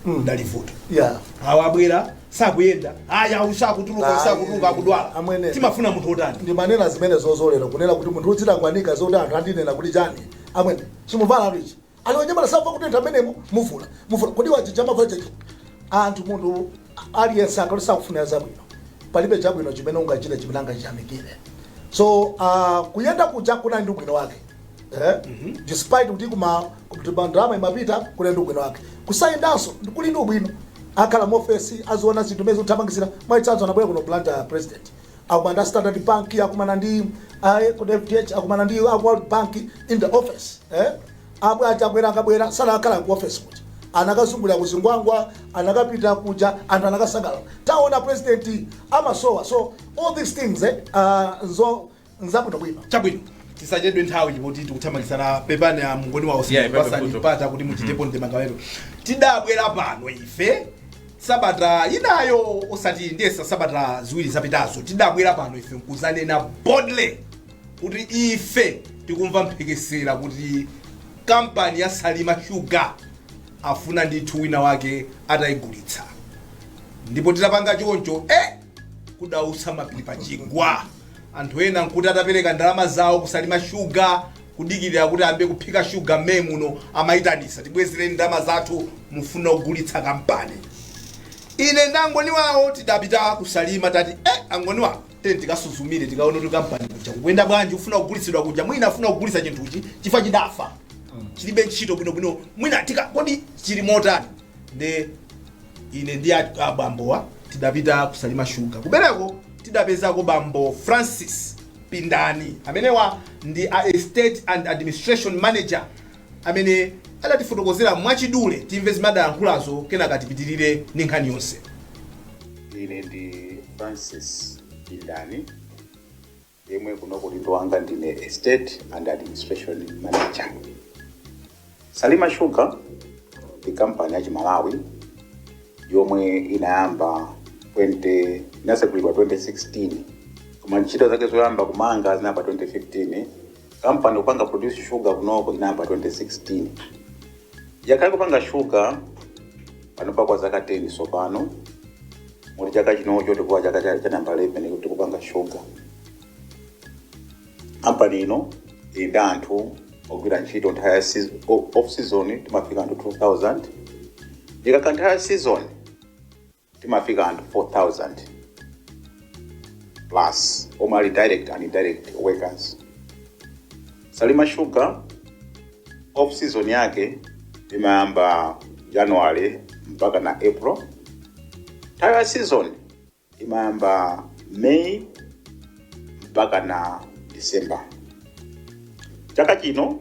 Mm. lidali vuto Yeah. awa abwera sakuyenda aya uyu sakutuluka uyu Ayi. sakutuluka akudwala Amwene. timafuna munthu otani ndimanena zimene zozolera kunena kuti munthu udzitangwanika zoti anthu andinena kuti chani amwene chimuvala kuti ichi ali onyamala samva kutentha amenemo muvule muvule koti wa jija amavala jeje anthu munthu aliyense akakhala sakufunira zabwino palibe chabwino chimene ungachite chimene angachiyamikire so uh, kuyenda kuja kunali ndi ubwino wake eh? despite kuti kuma kuba ndalama imapita kunali ndi ubwino wake kusayendanso ndi- kuli ndi ubwino akhala mu ofesi aziona zinthu n'kumazi thamangisira mwachitsanzo anabwera kuno blantyre president akumana ndi a standard bank akumana ndi a kodi fdh akumana ndi a world bank in the office eh? abwe achakwera akabwera sanakakhala ku office kuti anakazungulira kuzingwangwa anakapita kuja anthu anakasangalala, taona president amasowa so all these things eh, uh, nzo nzabwino bwino chabwino tisachedwe nthawi chipoti tikuthamangitsana pepani a mngoni wawo Yeah, ipepe pasani mpata kuti muchitepo ndemanga wenu tidabwera pano ife Sabata yinayo osati ndiye masabata ziwiri zapitazo tidabwera pano ife nkudzanena boldly kuti ife tikumva mphekesera kuti kampani ya Salima Sugar afuna ndithu wina wake atayigulitsa ndipo tidapanga choncho eh kudaputsa mapiri pa chigwa anthu ena nkuti atapereka ndalama zawo ku Salima Sugar kudikilira kuti ayambe kuphika sugar May muno amaitanisa tibwezereni ndalama zathu mufuna kugulitsa kampani ine ndi a Ngoni wawo tidapita ku Salima tati eh, a Ngoni wawo tiyeni tikasuzumire tikaone kuti kampani kuja kukuyenda bwanji ufuna kugulitsidwa kuja mwina afuna kugulitsa chinthuchi chifa chidafa chilibe ntchito bwinobwino mwina tika kodi chili motani nde ine ndi a- abambowa tidapita ku Salima Sugar ku Bereko tidapezako bambo Francis Pindani. Amenewa ndi a Estate and Administration Manager amene adatifotokozera mwachidule. Timve zimene adayankhulazo kenaka tipitirire ndi nkhani yonse. Ine ndi Francis Pindani yemwe kuno ku udindo wanga ndine Estate and Administration Manager. Salima Sugar ndi kampani ya Chimalawi yomwe inayamba 20 inasegulidwa 2016 koma ntchito zake zoyamba kumanga zinayamba 2015 kampani kupanga produce sugar kunoko inayamba 2016 yakhala ikupanga sugar panopa kwa zaka 10 tsopano mu chaka chinocho tikuti ndi chaka cha cha namba 11 kuti tikupanga sugar kampani ino ili ndi anthu ogwira ntchito nthawi ya season- o- off season timafika anthu 2000 ikakhala nthawi ya season timafika anthu 4000 plus omwe ali direct and indirect workers salima sugar off season yake imayamba january mpaka na april nthawi ya season imayamba May mpaka na December. Chaka chino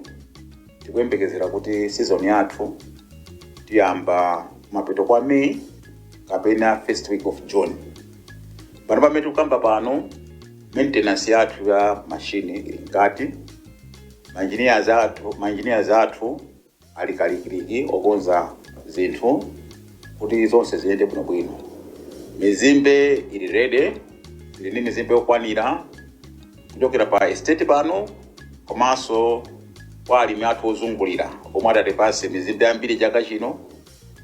tikuyembekezera kuti season yathu tiyamba kumapeto kwa May kapena first week of June. Pano pamene tikukamba pano maintenance yathu ya mashini ili mkati, maengineers athu maengineers athu ali kalikiliki okonza zinthu kuti zonse ziyende bwinobwino. Mizimbe ili rede, tili ndi mizimbe yokwanira kuchokera pa estate pano komanso kwa alimi athu ozungulira omwe adatipatsa mizimbe yambiri chaka chino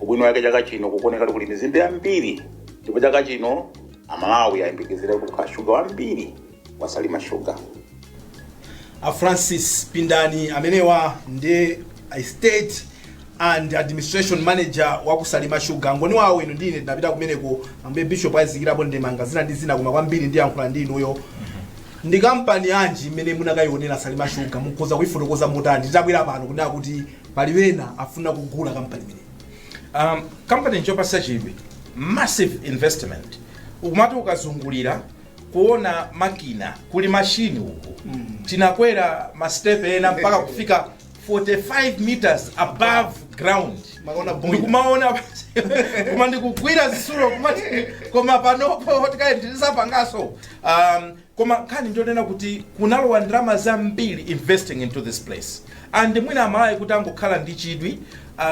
Ubwino wake chaka chino kukuoneka kuti kuli mizimbe yambiri ndipo chaka chino Amalawi ayembekezere kuti kukhala shuga wambiri wa Salima Sugar. a francis pindani amenewa ndi estate and administration manager wa kusalima shuga ngoni wawo inu ndine tinapita kumeneko ambuye bishop azikirapo ndemanga zina ndi zina koma kwambiri ndiyankhula ndi inuyo ndi kampani yanji imene munakayionera salima shuga mukhoza kuifotokoza motani titabwera pano kunena kuti pali wena afuna kugula kampani imene um, kampani nchopasa chidwi massive investment umati ukazungulira kuona makina kuli mashini uku mm. tinakwera mastepe ena mpaka kufika 45 meters above ground tikaona boiler. ndikumaona koma ndikugwira zisulo kumati koma panopo tikaendelesapangaso um, Koma nkhani ndiyonena kuti kunalowa ndalama zambiri investing into this place and mwina amalawi kuti angokhala ndi chidwi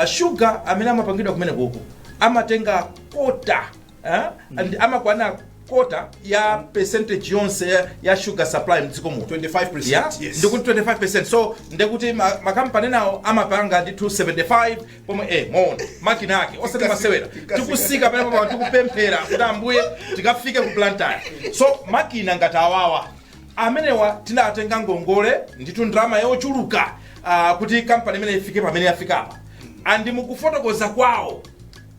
sugar amene amapangidwa kumenekuku amatenga kota eh, and amakwana kota ya percentage yonse ya- ya sugar supply mdziko muno 25%, Yeah? yes. ndikuti 25 so ndekuti ma- makampani enawo amapanga ndithu 75 pomwe eh mwaona makina ake osati masewera tikusika pamenepapa tikupemphera kuti ambuye tikafike ku Blantyre so makina ngati awawa amenewa tinatenga ngongole ndithu ndalama yochuluka ah, kuti kampani imene ifike pamene yafikapa and mukufotokoza kwawo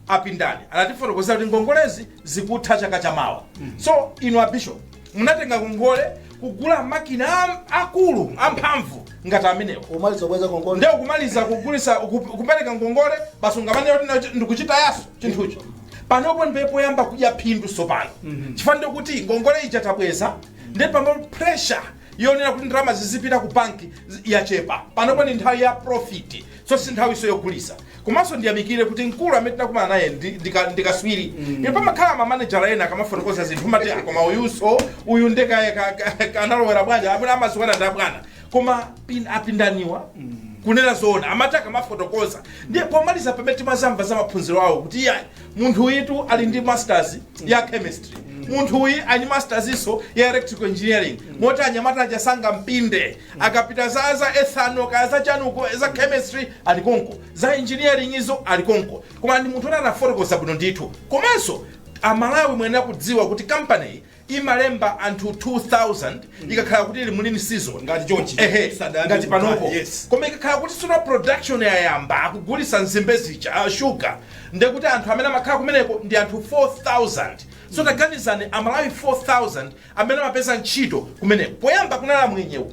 apindani anatifotokozera kuti ngongolezi zikutha chaka chamawa so inu abishop Munatenga ngongole kugula makina am- akulu amphamvu ngati amenewo Umaliza kubweza ngongole. nde ukumaliza kugulisa ukup- kupereka ngongole basi ungamanene kuti na- ndikuchitayaso chinthucho panopo ndiye poyamba kudya phindu sopano chifukwa ndiye kuti ngongole ija tabweza ndiye pano pressure yonena kuti ndalama zizipita ku banki zi- yachepa panopo ni nthawi ya profit so si nthawiso yogulisa komanso ndiyamikile kuti mkulu amene tinakumana naye ndi, ndi, ka- ndi kaswiri mm. ine pamakhala mamanejala ena akamafotokoza zinthu mati "Ah, koma uyuso uyu nde ka- ka- ka- ka- analowera bwanji amene amaziwana ndi abwana koma pin, apindaniwa mm. kunena zoona amati akamafotokoza ndiye pomaliza pamene timazamva za maphunziro awo kuti iyayi munthu uyitu ali ndi masters ya chemistry munthu uyi ali masters iso ya electrical engineering moti anyamata aja sangampinde akapita za ethanol kaya za chaniko za chemistry ali konko za engineering izo ali konko koma ndi munthu wina anafotokoza bwino ndithu komanso amalawi muyenera kudziwa kuti kampaniyi imalemba anthu 2000 ikakhala kuti ili mu lean season Ngati chonchi. ehe ngati panopo yes. koma ikakhala kuti tsono production yayamba akugulisa nzimbe zija ah, sugar ndiye kuti anthu amene amakhala kumeneko ndi anthu 4000 so taganizani amalawi 4000 amene amapeza ntchito kumeneko poyamba kunali amwenyewo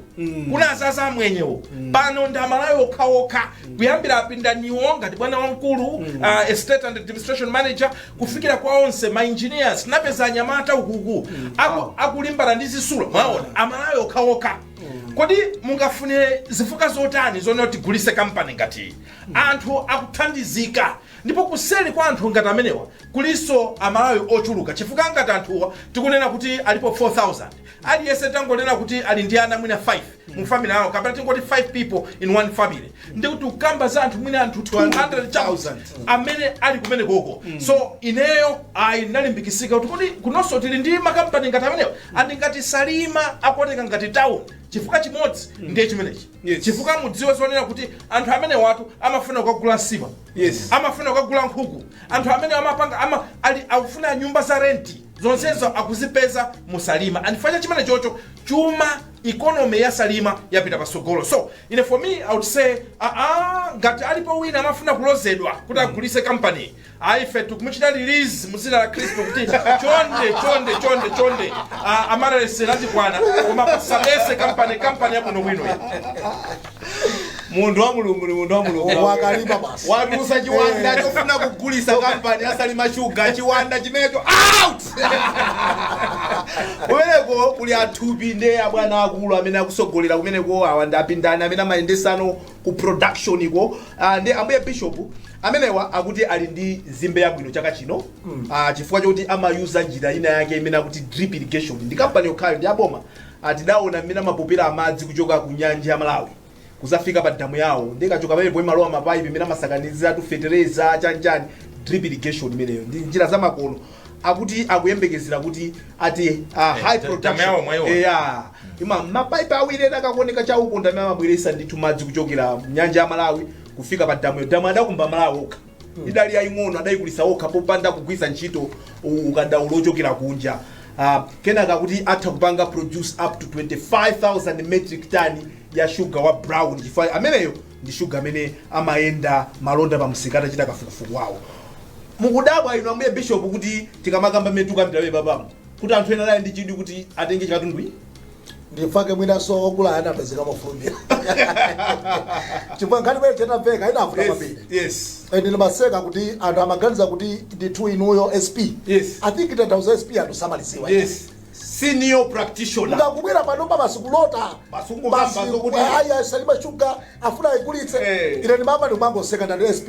kunazaza amwenyewo pano ndi amalawi okhaokha kuyambira apindaniwo ngati bwana wamkulu uh, estate and administration manager kufikira kwa onse ma engineers napeza anyamata uku aku, akulimbana ndi zitsulo mwaona amalawi okhaokha kodi mungafunire zifukwa zotani zonena kuti tigulise kampani ngati iyi anthu akuthandizika Ndipo kuseri kwa anthu ngati amenewa kulinso a Malawi ochuluka chifukwa ngati anthuwa tikunena kuti alipo 4000, aliyese tangonena kuti ali ndi ana mwina 5 mu family yawo kapena tingoti 5 people in one family ndiye kuti tikukamba za anthu mwina anthu 200 chakuti amene ali kumenekoko. So ineyo ayi ndinalimbikitsika kuti kodi kunonso tili ndi ma company ngati amenewa and ngati Salima akuoneka ngati town chifukwa chimodzi ndiye chimenechi. Yes. chifukwa mudziwe zonena kuti anthu amenewatu amafuna kukagula nsima Yes. amafuna kukagula nkhuku anthu amene amapanga ama, ali, akufuna nyumba za renti zonsezo akuzipeza mu Salima and chifukwa cha chimene chocho chuma economy ya salima yapita patsogolo so ine for me i would say aa ngati alipo wina amafuna kulozedwa kuti agulise kampani Ayi ife tikumuchita release mu dzina la Khristu kuti chonde chonde chonde chonde ah, maliseche latikwana koma asabetse kampani yabwino bwino iyi. munthu wa mulungu ni munthu wa mulungu wakalipa basi watulutsa chiwanda chofuna kugulisa kampani ya Salima shuga chiwanda chimenecho out kumeneko kuli athupi nde abwana akulu amene akutsogolera kumeneko awa ndi apindani amene amayendetsano ku production ko uh, ndi ambuye bishop amenewa akuti ali ndi nzimbe yabwino chaka chino mm. uh, chifukwa choti amayuza njira ina yake imene akuti drip irrigation ndi kampani yokhayo ndi aboma uh, tidaona mmene amapopera amadzi kuchoka ku nyanja ya malawi kuzafika pa damu yawo ndikachoka pamenepo imalowa m'mapaipi mmene amasakaniziratu fetereza chanichani drip irrigation imeneyo ndi njira zamakono akuti akuyembekezera kuti ati uh, high da- production dam yawo mwaiona. yeah ima mapaipi awiri ena akakuoneka chauko ndi amene amabweretsa ndithu madzi kuchokera m'nyanja ya malawi kufika pa damuyo damu adakumba amalawi okha idali yaying'ono adayikulitsa okha popanda kugwiritsa ntchito u- ukadaulo ochokera kunja uh, kenaka akuti atha kupanga produce up to 25000 metric ton ya shuga wa brown chifukwa ameneyo ndi shuga amene imayenda malonda pa msika atachita kafukufuku wawo mukudabwa inu ambuye bishop kuti tikamakamba mmene tikukambira pompano kuti anthu ena ali ndi chidwi kuti atenge chikatundu ndi fake mwinaso ogula anapezeka mofulumira chifukwa nkhani imene inamveka inavuta kwambiri yes ende ndimaseka kuti anthu amaganiza kuti ndithu inuyo sp Yes. i think tanthauza sp anthu samalidziwa Yes. senior practitioner mukangobwera panopa basi kulota Basi kungokamba Basi, zokuti- ah, ayi a Salima shuga afuna ayigulitse Eh. ine ndimamati umangoseka ndati sp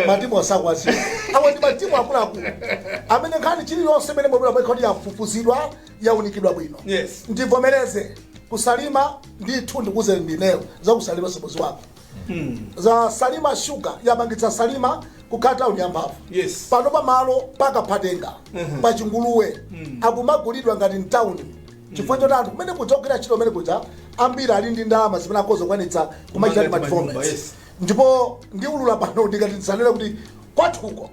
matimu asakwazi awa ndi matimu akuluakulu amene nkhani iliyonse imene yabwera imakhala kuti yafufuzidwa yaunikidwa bwino Yes. ndivomereze kusalima ndithu ndikuze ndineyo za ku Salima si mudzi wako za salima sugar yapangitsa salima kukhala tauni yamphamvu Yes. pano pa malo pa Kaphatenga pa chinguluwe akumagulidwa ngati mtauni chifukwa choti anthu kumene kuja akugwira ntchito kumene kuja ambiri ali ndi ndalama zimene akhoza kukwanitsa kumachita Kumanga ndi manyumba, developments yes. ndipo ndiulula pano ndikati ndisanene kuti kwathuko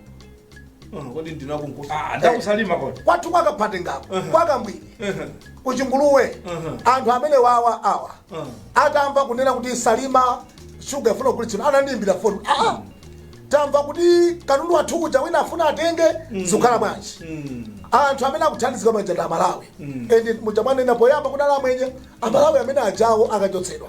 kodi ndinakuuza Ah, ndi wa ku Salima kodi kwathu kwa Kaphatengako kwa Kambwiri ku Chinguluwe anthu amene wawa awa atamva kunena kuti salima shuga ifuna kugulitsidwa anandiimbira foni aa tamva kuti katundu wathu uja wina afuna atenge zikukhala bwanji anthu amene akuthandizika manja ndi a Malawi and muja mwanena poyamba kunali amwenye amalawi amene ajawo akachotsedwa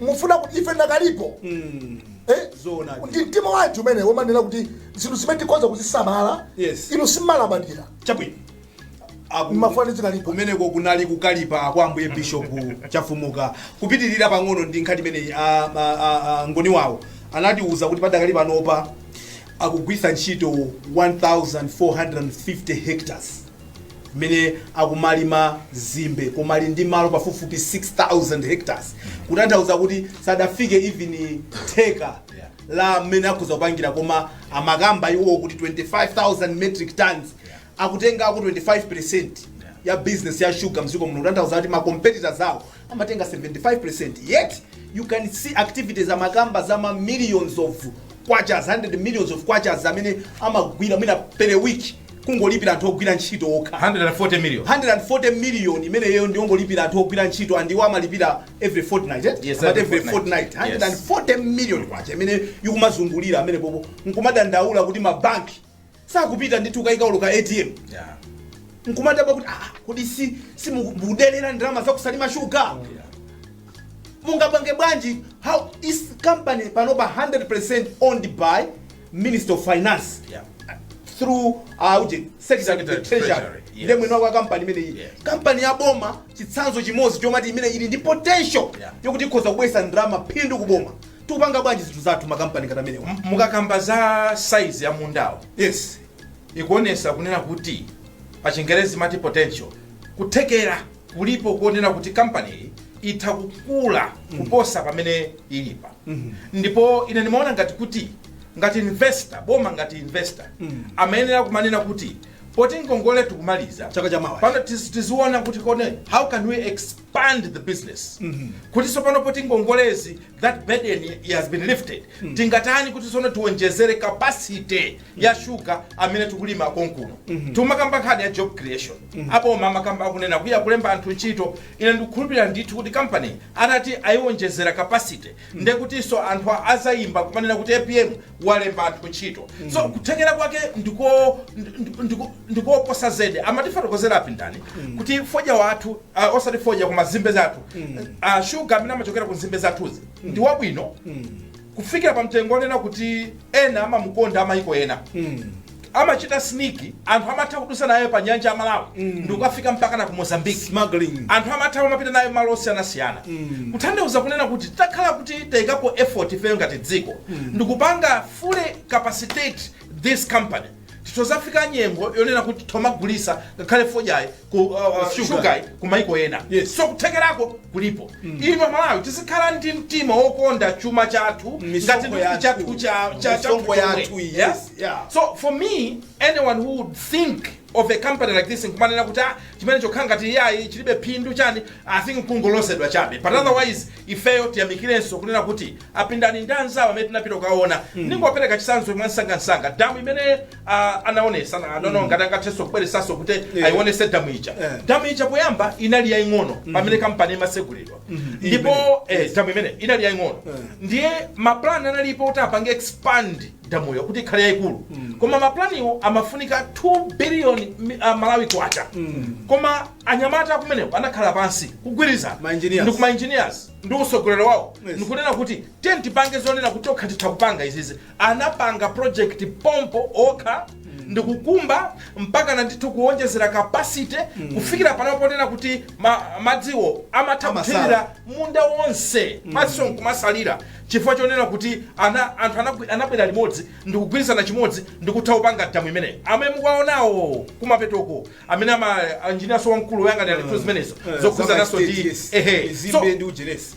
mufuna ku- ife ndakalipo Mm. Eh? Zoona. ndi mtima wanji umene womanena kuti zinthu zimene tikhoza kuzisamala Yes. inu simalabadira Chabwino. Aku- mumafuna ndizikalipa kumeneko kunali kukalipa kwa ambuye bishopu chafumuka kupitirira pang'ono ndi nkhani imeneyi a- a- a- a ngoni wawo anatiuza kuti padakali panopa akugwitsa ntchito 1450 hectares mmene akumalima nzimbe koma ali ndi malo pafupifupi 6000 hectares kutanthauza kuti sadafike even theka la mmene akhoza kupangira koma amakamba iwowo kuti 25000 metric tons akutengako 25% ya business ya sugar mziko muno kutanthauza kuti ma competitors awo amatenga 75% yet you can see activities amakamba za ma millions of Kwachas, hundred millions of Kwachas zimene amagwira mwina per week kungolipira anthu ogwira ntchito okha. 140 million. 140 million imeneyo ndiyongolipira anthu ogwira ntchito and iwo amalipira every fortnight eh? Yes, But every every fortnight. fortnight Yes. 140 million kwacha imene ikumazungulira pamenepopo nkumadandaula kuti mabanki sakupita ndithu ukayika olo ka atm Yeah. nkumadabwa kuti ah, kodi si mukudelera ndalama zaku Salima shuga Yeah. mungapange bwanji how is company panopa 100% owned by minister of finance Yeah. through uh, uje secretary Secretary of treasury Treasury, yes. ndiye mwini wake wa kampani imeneyi Yes. kampani ya boma chitsanzo chimodzi chomati imene ili ndi potential Yeah. yokuti ikhoza kubwesa ndalama phindu ku boma tikupanga bwanji zinthu zathu makampani ngati amenewa mukakamba za size ya mundawo yes ikuonesa kunena kuti pa chingerezi mati potential kuthekera kulipo kuonena kuti kampani iyi itha kukula kuposa pamene ilipa ndipo ine ndimaona ngati kuti ngati investor boma ngati investor amayenera kumanena kuti poti ngongole tikumaliza Chaka chamawa. pano tiz- tiziona kuti kone how can we ex pand the business kuti tsopano poti ngongolezi that burden has been lifted tingatani kuti tsono tiwonjezere capacity ya shuga amene tikulima konkuno timakamba nkhani ya job creation aboma amakamba akunena kuya kulemba anthu ntchito ine ndikukhulupirira ndithu kuti company atati ayiwonjezera capacity ndekutiso anthu a- azayimba kumanena kuti apm walemba anthu ntchito so kuthekera kwake ndiko ndi- ndiko- ndikoposa zedi amatifotokozera a Pindani kuti fodya wathu uh, osati fodya koma zimbe zathu uh, shuga amene amachokera ku zimbe zathuzi ndi wabwino kufikira pa mtengo onena kuti ena amamukonda amayiko ena amachita sneak anthu amatha kudusa nayo pa nyanja ya Malawi mm. ndikukafika mpaka na ku Mozambique smuggling anthu amatha kumapita nayo malo osiyanasiyana mm. kutanthauza kunena kuti takhala kuti tayikapo effort ifeyo ngati dziko mm. ndikupanga fully capacitate this company titozafika nyengo yonena kuti tomagulisa ngakhale fodyayi ku uh, uh, Sugar. sugar kumaiko ena Yes. so kuthekerako kulipo ife aMalawi tizikhala ndi mtima wokonda chuma chathu Misonkho ngati ndi yathu. chathu cha- cha- chathu Misonkho chomwe. yathu, yes, Yeah? yeah. so for me anyone who would think of a company like this nkumanena kuti ah, chimene chokhala ngati iyayi chilibe phindu chani i think kungolodzedwa chabe but otherwise ifeyo tiyamikirenso kunena kuti a Pindani ndi anzawo amene tinapita kukaona ndingopereka chisanzo mwansangansanga damu imene Ah, anaonesa na nono ngati angathenso kubweresanso kuti Yeah. ayionese damu ija Yeah. damu ija poyamba inali yaying'ono pamene kampani imasegulidwa ndipo Imene. eh, damu imene inali yaying'ono Yeah. ndiye mapulani analipo kuti apange expand damuyo kuti ikhale yayikulu koma mapulaniwo amafunika 2 billion mi- ah, malawi kwacha koma anyamata akumeneko anakhala pansi kugwirizana Ma engineers. ndi ma engineers ndi usogoleri wawo Yes. ndikunena kuti tiye tipange zonena kuti tokha titha kupanga izizi anapanga project pompo okha ndikukumba mpakana ndithu kuwonjezera capacity kufikira pano ponena kuti ma, madziwo amatha Amasala. kuthirira munda wonse madziwo nkumasalira chifukwa chonena kuti ana, anthu anagwi- anabwera limodzi ndikugwirizana chimodzi ndikutha kupanga damu imeneyi amene mukuaonawo kumapetoko amene a engineer so wamkulu woyang'anira ntchito uh, zimenezo uh, eh, zokhuzananso ndi ehe so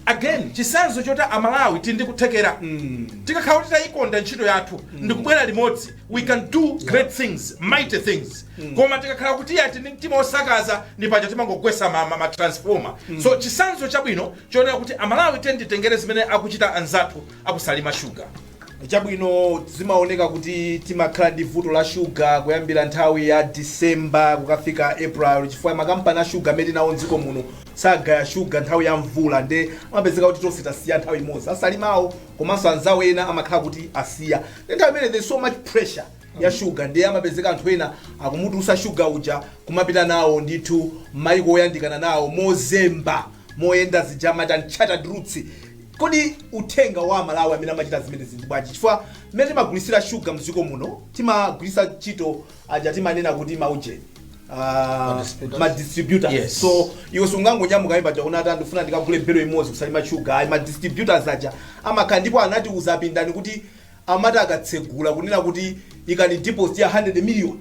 again chisanzo choti amalawi tili ndi kuthekera mm. tikakhala kuti tayikonda ntchito yathu mm. ndikubwera limodzi we can do yeah. great things mighty things mm. koma tikakhala kuti tili ndi mtima wosakaza ndi paja timangogwesa matransforma ma, ma mm. so chisanzo chabwino chonena kuti amalawi tiyeni titengere zimene akuchita anzathu aku Salima shuga Chabwino, zimaoneka kuti timakhala ndi vuto la shuga kuyambira nthawi ya December kukafika April chifukwa makampani a shuga amene tili nawo m'dziko muno sagaya shuga nthawi ya mvula nde amapezeka kuti tonse tasiya nthawi imodzi. A Salimawo komanso anzawo ena amakhala kuti asiya nde nthawi imene there's so much pressure ya shuga nde amapezeka anthu ena akumutulutsa shuga uja kumapita nawo ndithu m'mayiko oyandikana nawo mozemba, moyenda zija amati unchartered routes. Kodi uthenga wa amalawi amene amachita zimenezi ndi bwanji chifukwa mmene timagulitsira sugar mdziko muno timagwiritsa ntchito aja timanena kuti maujeni ah, ma distributors Yes. so iwe sungangonyamuka ayi paja unati ndifuna ndikagule belo imodzi ku Salima sugar ayi ma distributors aja amakhala ndipo anatiuza a Pindani kuti amati akatsegula kunena kuti ikani deposit ya 100 million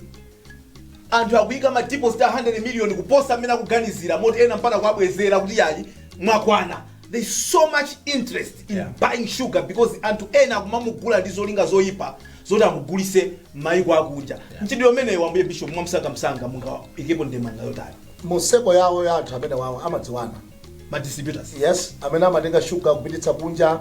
anthu akuyika ma deposit a 100 million kuposa mmene akuganizira moti ena mpaka kuwabwezera kuti yayi mwakwana there is so much interest in yeah. buying sugar because anthu ena akumamugula ndi zolinga zoyipa zoti amugulise mayiko akunja yeah. ntchito imeneyo ambuye bishop mwamsangamsanga mungaikepo ndemanga yotani museko yawo ya anthu amenewawo amadziwana madistributors yes amene amatenga sugar kupititsa kunja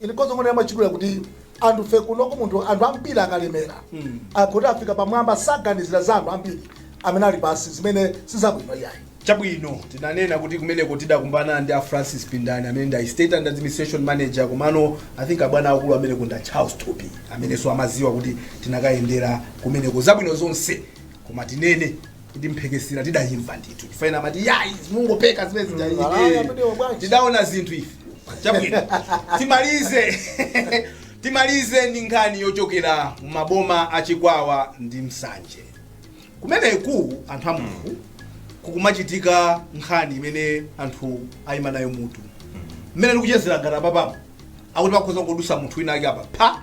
Ine nkhoza kunena mwachidule kuti anthu fe kunoko munthu anthu ambiri akalemera kuti afika pamwamba saganizira za anthu ambiri amene ali pansi zimene sizabwino iyayi chabwino tinanena kuti kumeneko tidakumbana ndi a francis pindani amene ndi estate and administration manager komano i think abwana akulu amene kunda charles thupi amenenso amaziwa kuti tinakayendera kumeneko zabwino zonse koma tinene kuti mphekesera tidayimva ndithu chifukwa ena amati yayi mungopeka zimene zija Mm, alaya iye." amenewo bwanji. tidaona zinthu ife chabwino timalize timalize ndi nkhani yochokera mu maboma a chikwawa ndi nsanje kumeneku anthu a mulungu kukumachitika nkhani imene anthu ayima nayo mutu mmene ndikuchezera ngati apapamu akuti pakhoza kudusa munthu wina ake apa pha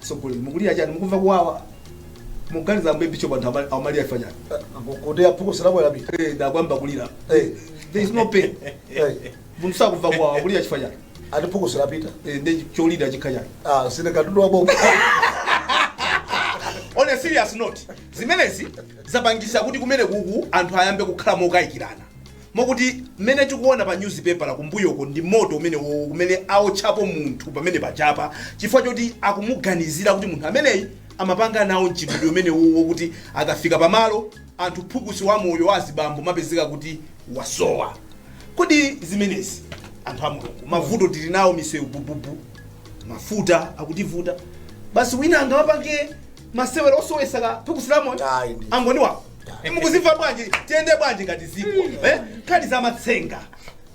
Sogoleni mukulira chani mukumva kuwawa. Muganiza ambuye bishop anthu amalira amalira afanya. Kuti phukusi lako lapita. Eh ndikuyamba kulira. Eh there is no pain. Eh munthu sakumva kuwawa kulira chifanya. Ati phukusi lapita. Eh ndi cholira chikhanya. Ah si ndi katundu wa boma. On a serious note, zimenezi zapangisa kuti kumenekuku anthu ayambe kukhala mokayikirana. Mokuti mmene tikuona pa nyuzipepala kumbuyoko ndi moto umenewowo kumene aotchapo munthu pamenepajapa chifukwa choti akumuganizira kuti munthu ameneyi amapanga nawo mchitidwe umenewo wokuti akafika pamalo anthu phukusi la moyo wa azibambo limapezeka kuti lasowa. Kodi zimenezi anthu a Mulungu mavuto tili nawo misewu bububu mafuta akutivuta basi wina angamapange masewero osowesa ka phukusi la moyo Ayi, ndi- Angoni wawo mukuzimva bwanji tiyende bwanji ngati dziko eh? nkhani za matsenga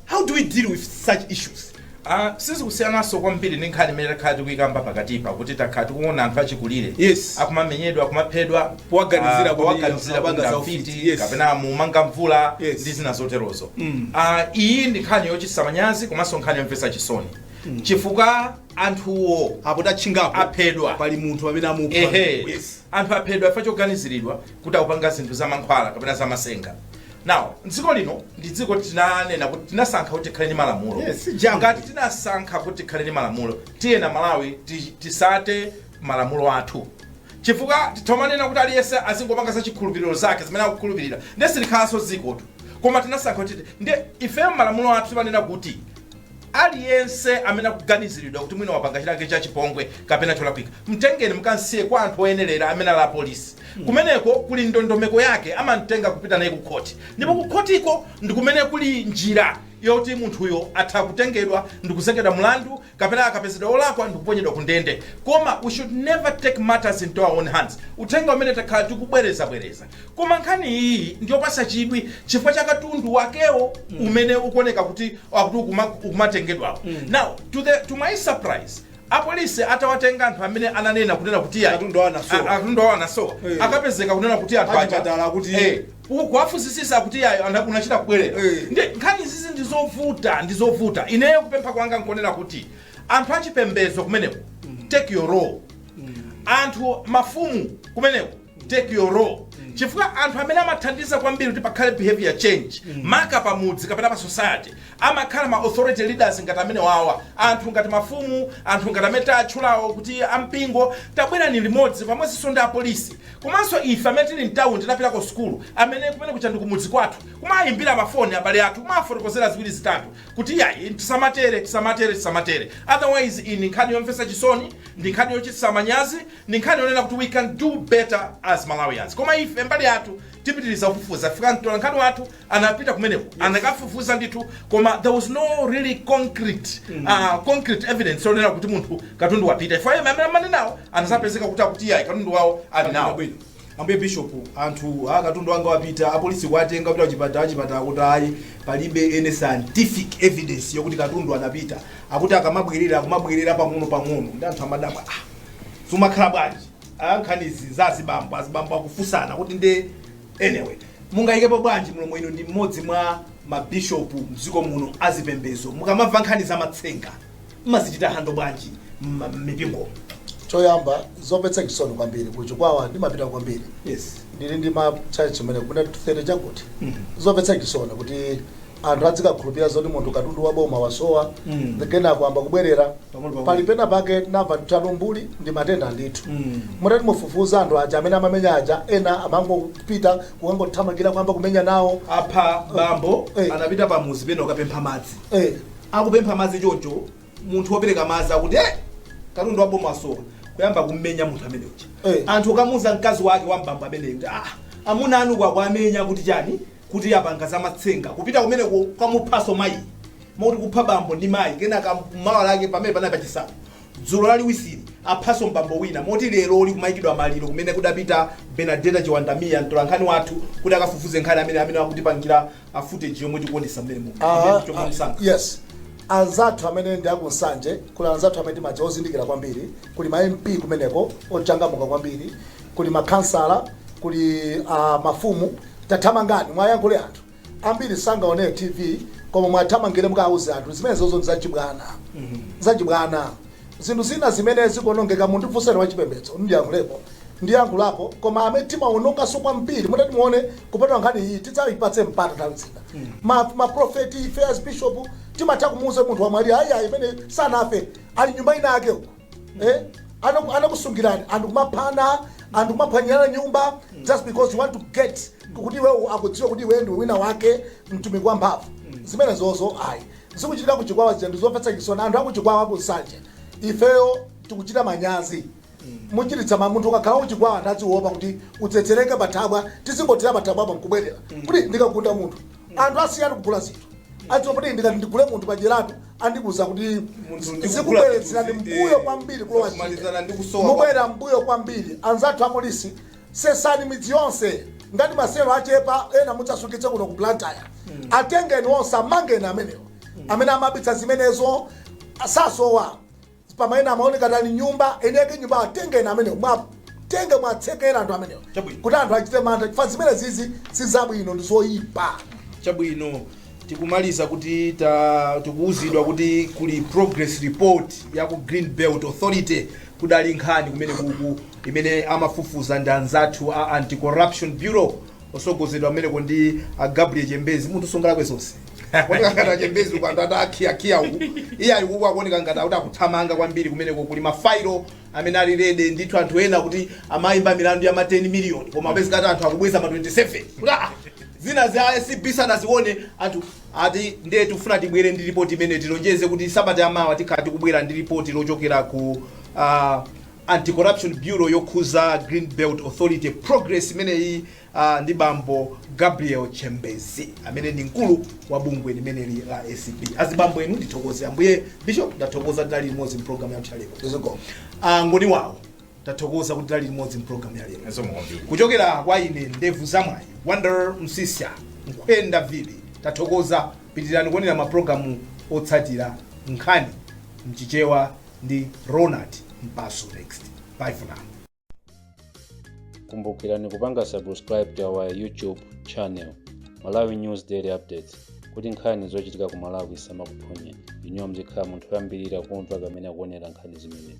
how do we deal with such issues Ah, sizikusiyananso kwambiri ndi nkhani imene takhala tikuyikamba pakatipa kuti takhala tikuona anthu achikulire Yes. akumamenyedwa akumaphedwa Powaganizira ah, kuti powaganizira amapanga kuti za afiti, ufiti, yes. kapena akumanga mvula Yes. ndi zina zoterozo Ah, iyi ndi nkhani yochititsa manyazi komanso nkhani yomvetsa chisoni chifukwa anthuwo apo tatchinga apo aphedwa pali munthu amene amupha ehe yes anthu aphedwa chifukwa choganiziridwa kuti akupanga zinthu za mankhwala kapena za matsenga now dziko lino ndi dziko tinanena kuti tinasankha kuti tikhale ndi malamulo Yes, si jambo. ngati tinasankha kuti tikhale ndi malamulo tiyeni aMalawi ti- tisate malamulo athu chifukwa tikamanena kuti aliyense azingopanga za chikhulupiriro zake zimene akukhulupirira nde silikhalanso dzikotu koma tinasankha kuti nde ifeyo malamulo athu timanena kuti Aliyense amene akuganiziridwa kuti mwina wapanga chinachake cha chipongwe kapena cholakwika, mtengeni mukamsiye kwa anthu oyenerera amene ali apolisi. Kumeneko kuli ndondomeko yake, amamtenga kupita naye kukhoti ndipo kukhotiko ndi kumene kuli njira yoti munthuyo atha kutengedwa ndi kuzengedwa mlandu kapena akapezedwa wolakwa ndi kuponyedwa kundende. Koma we should never take matters into our own hands. Uthenga umene takhala tikubwerezabwereza. Koma nkhani iyi ndiyopasa chidwi chifukwa cha katundu wakewo mm. umene ukuoneka kuti akuti ukumatengedwawo mm. now to, the, to my surprise apolisi atawatenga anthu amene ananena kunena kuti katundu wawo anasowa hey. Eh. akapezeka kunena kuti anthu aja kuti hey. Eh, kuwafusisisa kuti ayi unachita kubwerera hey. Eh. ndi nkhani izi ndizovuta ndizovuta ineyo kupempha kwanga nkonena kuti anthu achipembezo kumeneko mm. take your role mm. anthu mafumu kumeneko take your role chifukwa anthu amene amathandiza kwambiri kuti pakhale behavior change maka pa mudzi kapena pa society amakhala ma authority leaders ngati amenewawa anthu ngati mafumu anthu ngati amene tatchulawo kuti ampingo tabwerani limodzi pamodzinso ndi apolisi komanso ife amene tili mtauni tinapita ku sukulu amene kumenekuja ndi kumudzi kwathu kumayimbira mafoni abale athu kumafotokozera ziwiri zitatu kuti yayi tisamatere tisamatere tisamatere otherwise iyi ndi nkhani yomvetsa chisoni ndi nkhani yochititsa manyazi Ndi nkhani yonena kuti we can do better as Malawians koma ife mbali yathu tipitiliza kufufuza chifukwa mtolankhani wathu anapita kumeneko anakafufuza ndithu koma there was no really concrete uh, concrete evidence yonena kuti munthu katundu wapita chifukwa yemwe amene amanena nawo anadzapezeka kuti akuti iyayi katundu wawo ali nawo Bwino. ambuye bishop anthu akuti katundu wanga wapita apolisi kuwatenga kuti achipatala achipatala kuti ayi palibe any scientific evidence yokuti katundu anapita akuti akumabwerera akumabwerera pang'ono pang'ono ndiye anthu amadabwa ah zimakhala bwanji Ah, nkhanizi za azibambo azibambo akufunsana kuti ndiye anyway mungayikepo bwanji mlomo inu ndi mmodzi mwa mabishopu mdziko muno azipembezo mukamamva nkhani za matsenga mmazichita handle bwanji mma- mmipingo choyamba zomvetsa chisoni kwambiri kuchikwawa ndimapita kwambiri yes ndili ndi ma church kumene kuja tere chakuti zomvetsa chisoni kuti anthu azikakhulupirira zoti munthu katundu wa boma wasowa Mm. ndiye kenako wayamba kubwerera Pang'ono pang'ono. pali pena pake ndinamva kuti umbuli ndi matenda ndithu Mm. mutati mufufuze anthu aja amene amamenya aja ena amangopita kukangothamangira kuyamba kumenya nawo apha bambo Eh. anapita pamuzi pena kukapempha madzi eh, akupempha madzi chocho munthu wopereka madzi akuti eh, katundu wa boma wasowa kuyamba kummenya munthu amene uja Eh. anthu kukamuuza mkazi wake wa mbambo ameneyo kuti ah, amuna anu akuwamenya kuti chani kuti apanga zamatsenga kupita kumeneko kukamuphanso mayi moti kupha bambo ndi mayi kenaka mawa lake pamene panali pachisanu dzulo laliwisiri aphanso mbambo wina moti lero kumayikidwa maliro kumene kudapita Benadetta Chiwanda Mia mtolankhani wathu kuti akafufuze nkhani amene amene akutipangira a footage yomwe tikuonesa mmenemu Aha, chomwe ah, mnzanga yes anzathu amene ndi akunsanje kuli anzathu amene timadziwa ozindikira kwambiri kuli ma mp kumeneko ochangamuka kwambiri kuli makhansala, kuli mafumu, tathamangani muwayankhule anthu. Ambiri sangaonere TV koma muwathamangire mukawauze anthu kuti zimenezozo ndi zachibwana, zachibwana. Zinthu zina zimene zikuonongeka mundifunseni wachipembedzo ndiyankhulepo, ndiyankhulapo koma amene timaononganso kwambiri mutati muone kupatula nkhani iyi tidzayipatsa mpata nthawi zina. Ma, ma prophet ife asibishop timatha kumuuza munthu wamwalira ayi ayi ameneyo sanafe ali nyumba ina yake uko. eh? Anaku- anakusungirani anthu kumaphana anthu kumaphwanyirana nyumba just because you want to get kuti iwe akudziwe kuti iwe ndiwe wina wake mtumiki wa mphamvu zimenezozo ayi zikuchitika kuchikwawa zija ndizomvetsa chisoni anthu akuchikwawa akunsanje ifeyo tikuchita manyazi muchititsa ma- munthu ukakalowa kuchikwawa udziwopa kuti utsetsereke pathabwa tizingothera pathabwapo nkubwerera kuti ndikagunda munthu anthu asiya kugula zinthu akuopa kuti ndikati ndigule munthu pajeratu andikuuza kuti zikubwezeretsani mbuyo kwambiri kuloko mubwerera mbuyo kwambiri anzathu apolisi sesani midzi yonse ngati maselo achepa ena mudzasungitse kuno ku blantyre hmm. atengeni onse amangeni amenewo hmm. amene amayambitsa zimenezo sasowa Pamene amaoneka ngati ali nyumba, eni ake nyumba atengeni amenewo. Mwatenge mwatsekera anthu amenewo. Kuti anthu achite mantha chifukwa zimene zizi si zabwino ndi zoyipa. chabwino tikumaliza kuti tikuwuzidwa kuti kuli progress report ya ku green belt authority kudali nkhani kumene kuku imene amafufuza ndi anzathu a anti corruption bureau otsogozedwa kumeneko ndi a gabriel chembezi munthu sangalakwe zonse kuoneka ngati achembezi uko anthu ati akhiyakhiya uku iye ali kuku akuoneka ngati akuti akuthamanga kwambiri kumeneko kuli mafailo amene ali rede ndithu anthu ena kuti amayimba milandu ya ma 10 miliyoni koma apezeka ati anthu akubweza ma 27 kuti ah, zina za acb sanazione anthu ati ndiye tikufuna tibwere ndi ripoti imene tilonjeze kuti sabata yamawa tikhala tikubwera ndi ripoti lochokera ku ah, Anti Corruption Bureau yokhuza Green Belt Authority progress imeneyi uh, ndi bambo Gabriel Chembezi amene ndi mkulu wa bungwe limeneli la ACB. Azibambo anga ndithokoze ambuye Bishop ndathokoza tidali limodzi mu program ya ya lero. Zikomo. Uh, ngoni wawo tathokoza kuti tidali limodzi mu program ya lero. Nso mukombi. Kuchokera kwa ine ndevu zamwayi Wonder Msisya Nkwenda Vili tathokoza pitirani kuonera maprogramu otsatira nkhani mchichewa ndi Ronald Mpaso Next. Bye for now. kumbukirani kupanga subscribe to our youtube channel malawi news daily updates kuti nkhani zochitika ku malawi zisamakuphonyeni inuyo muzikhala munthu woyambirira kumva komanso kuonera nkhani zimenezi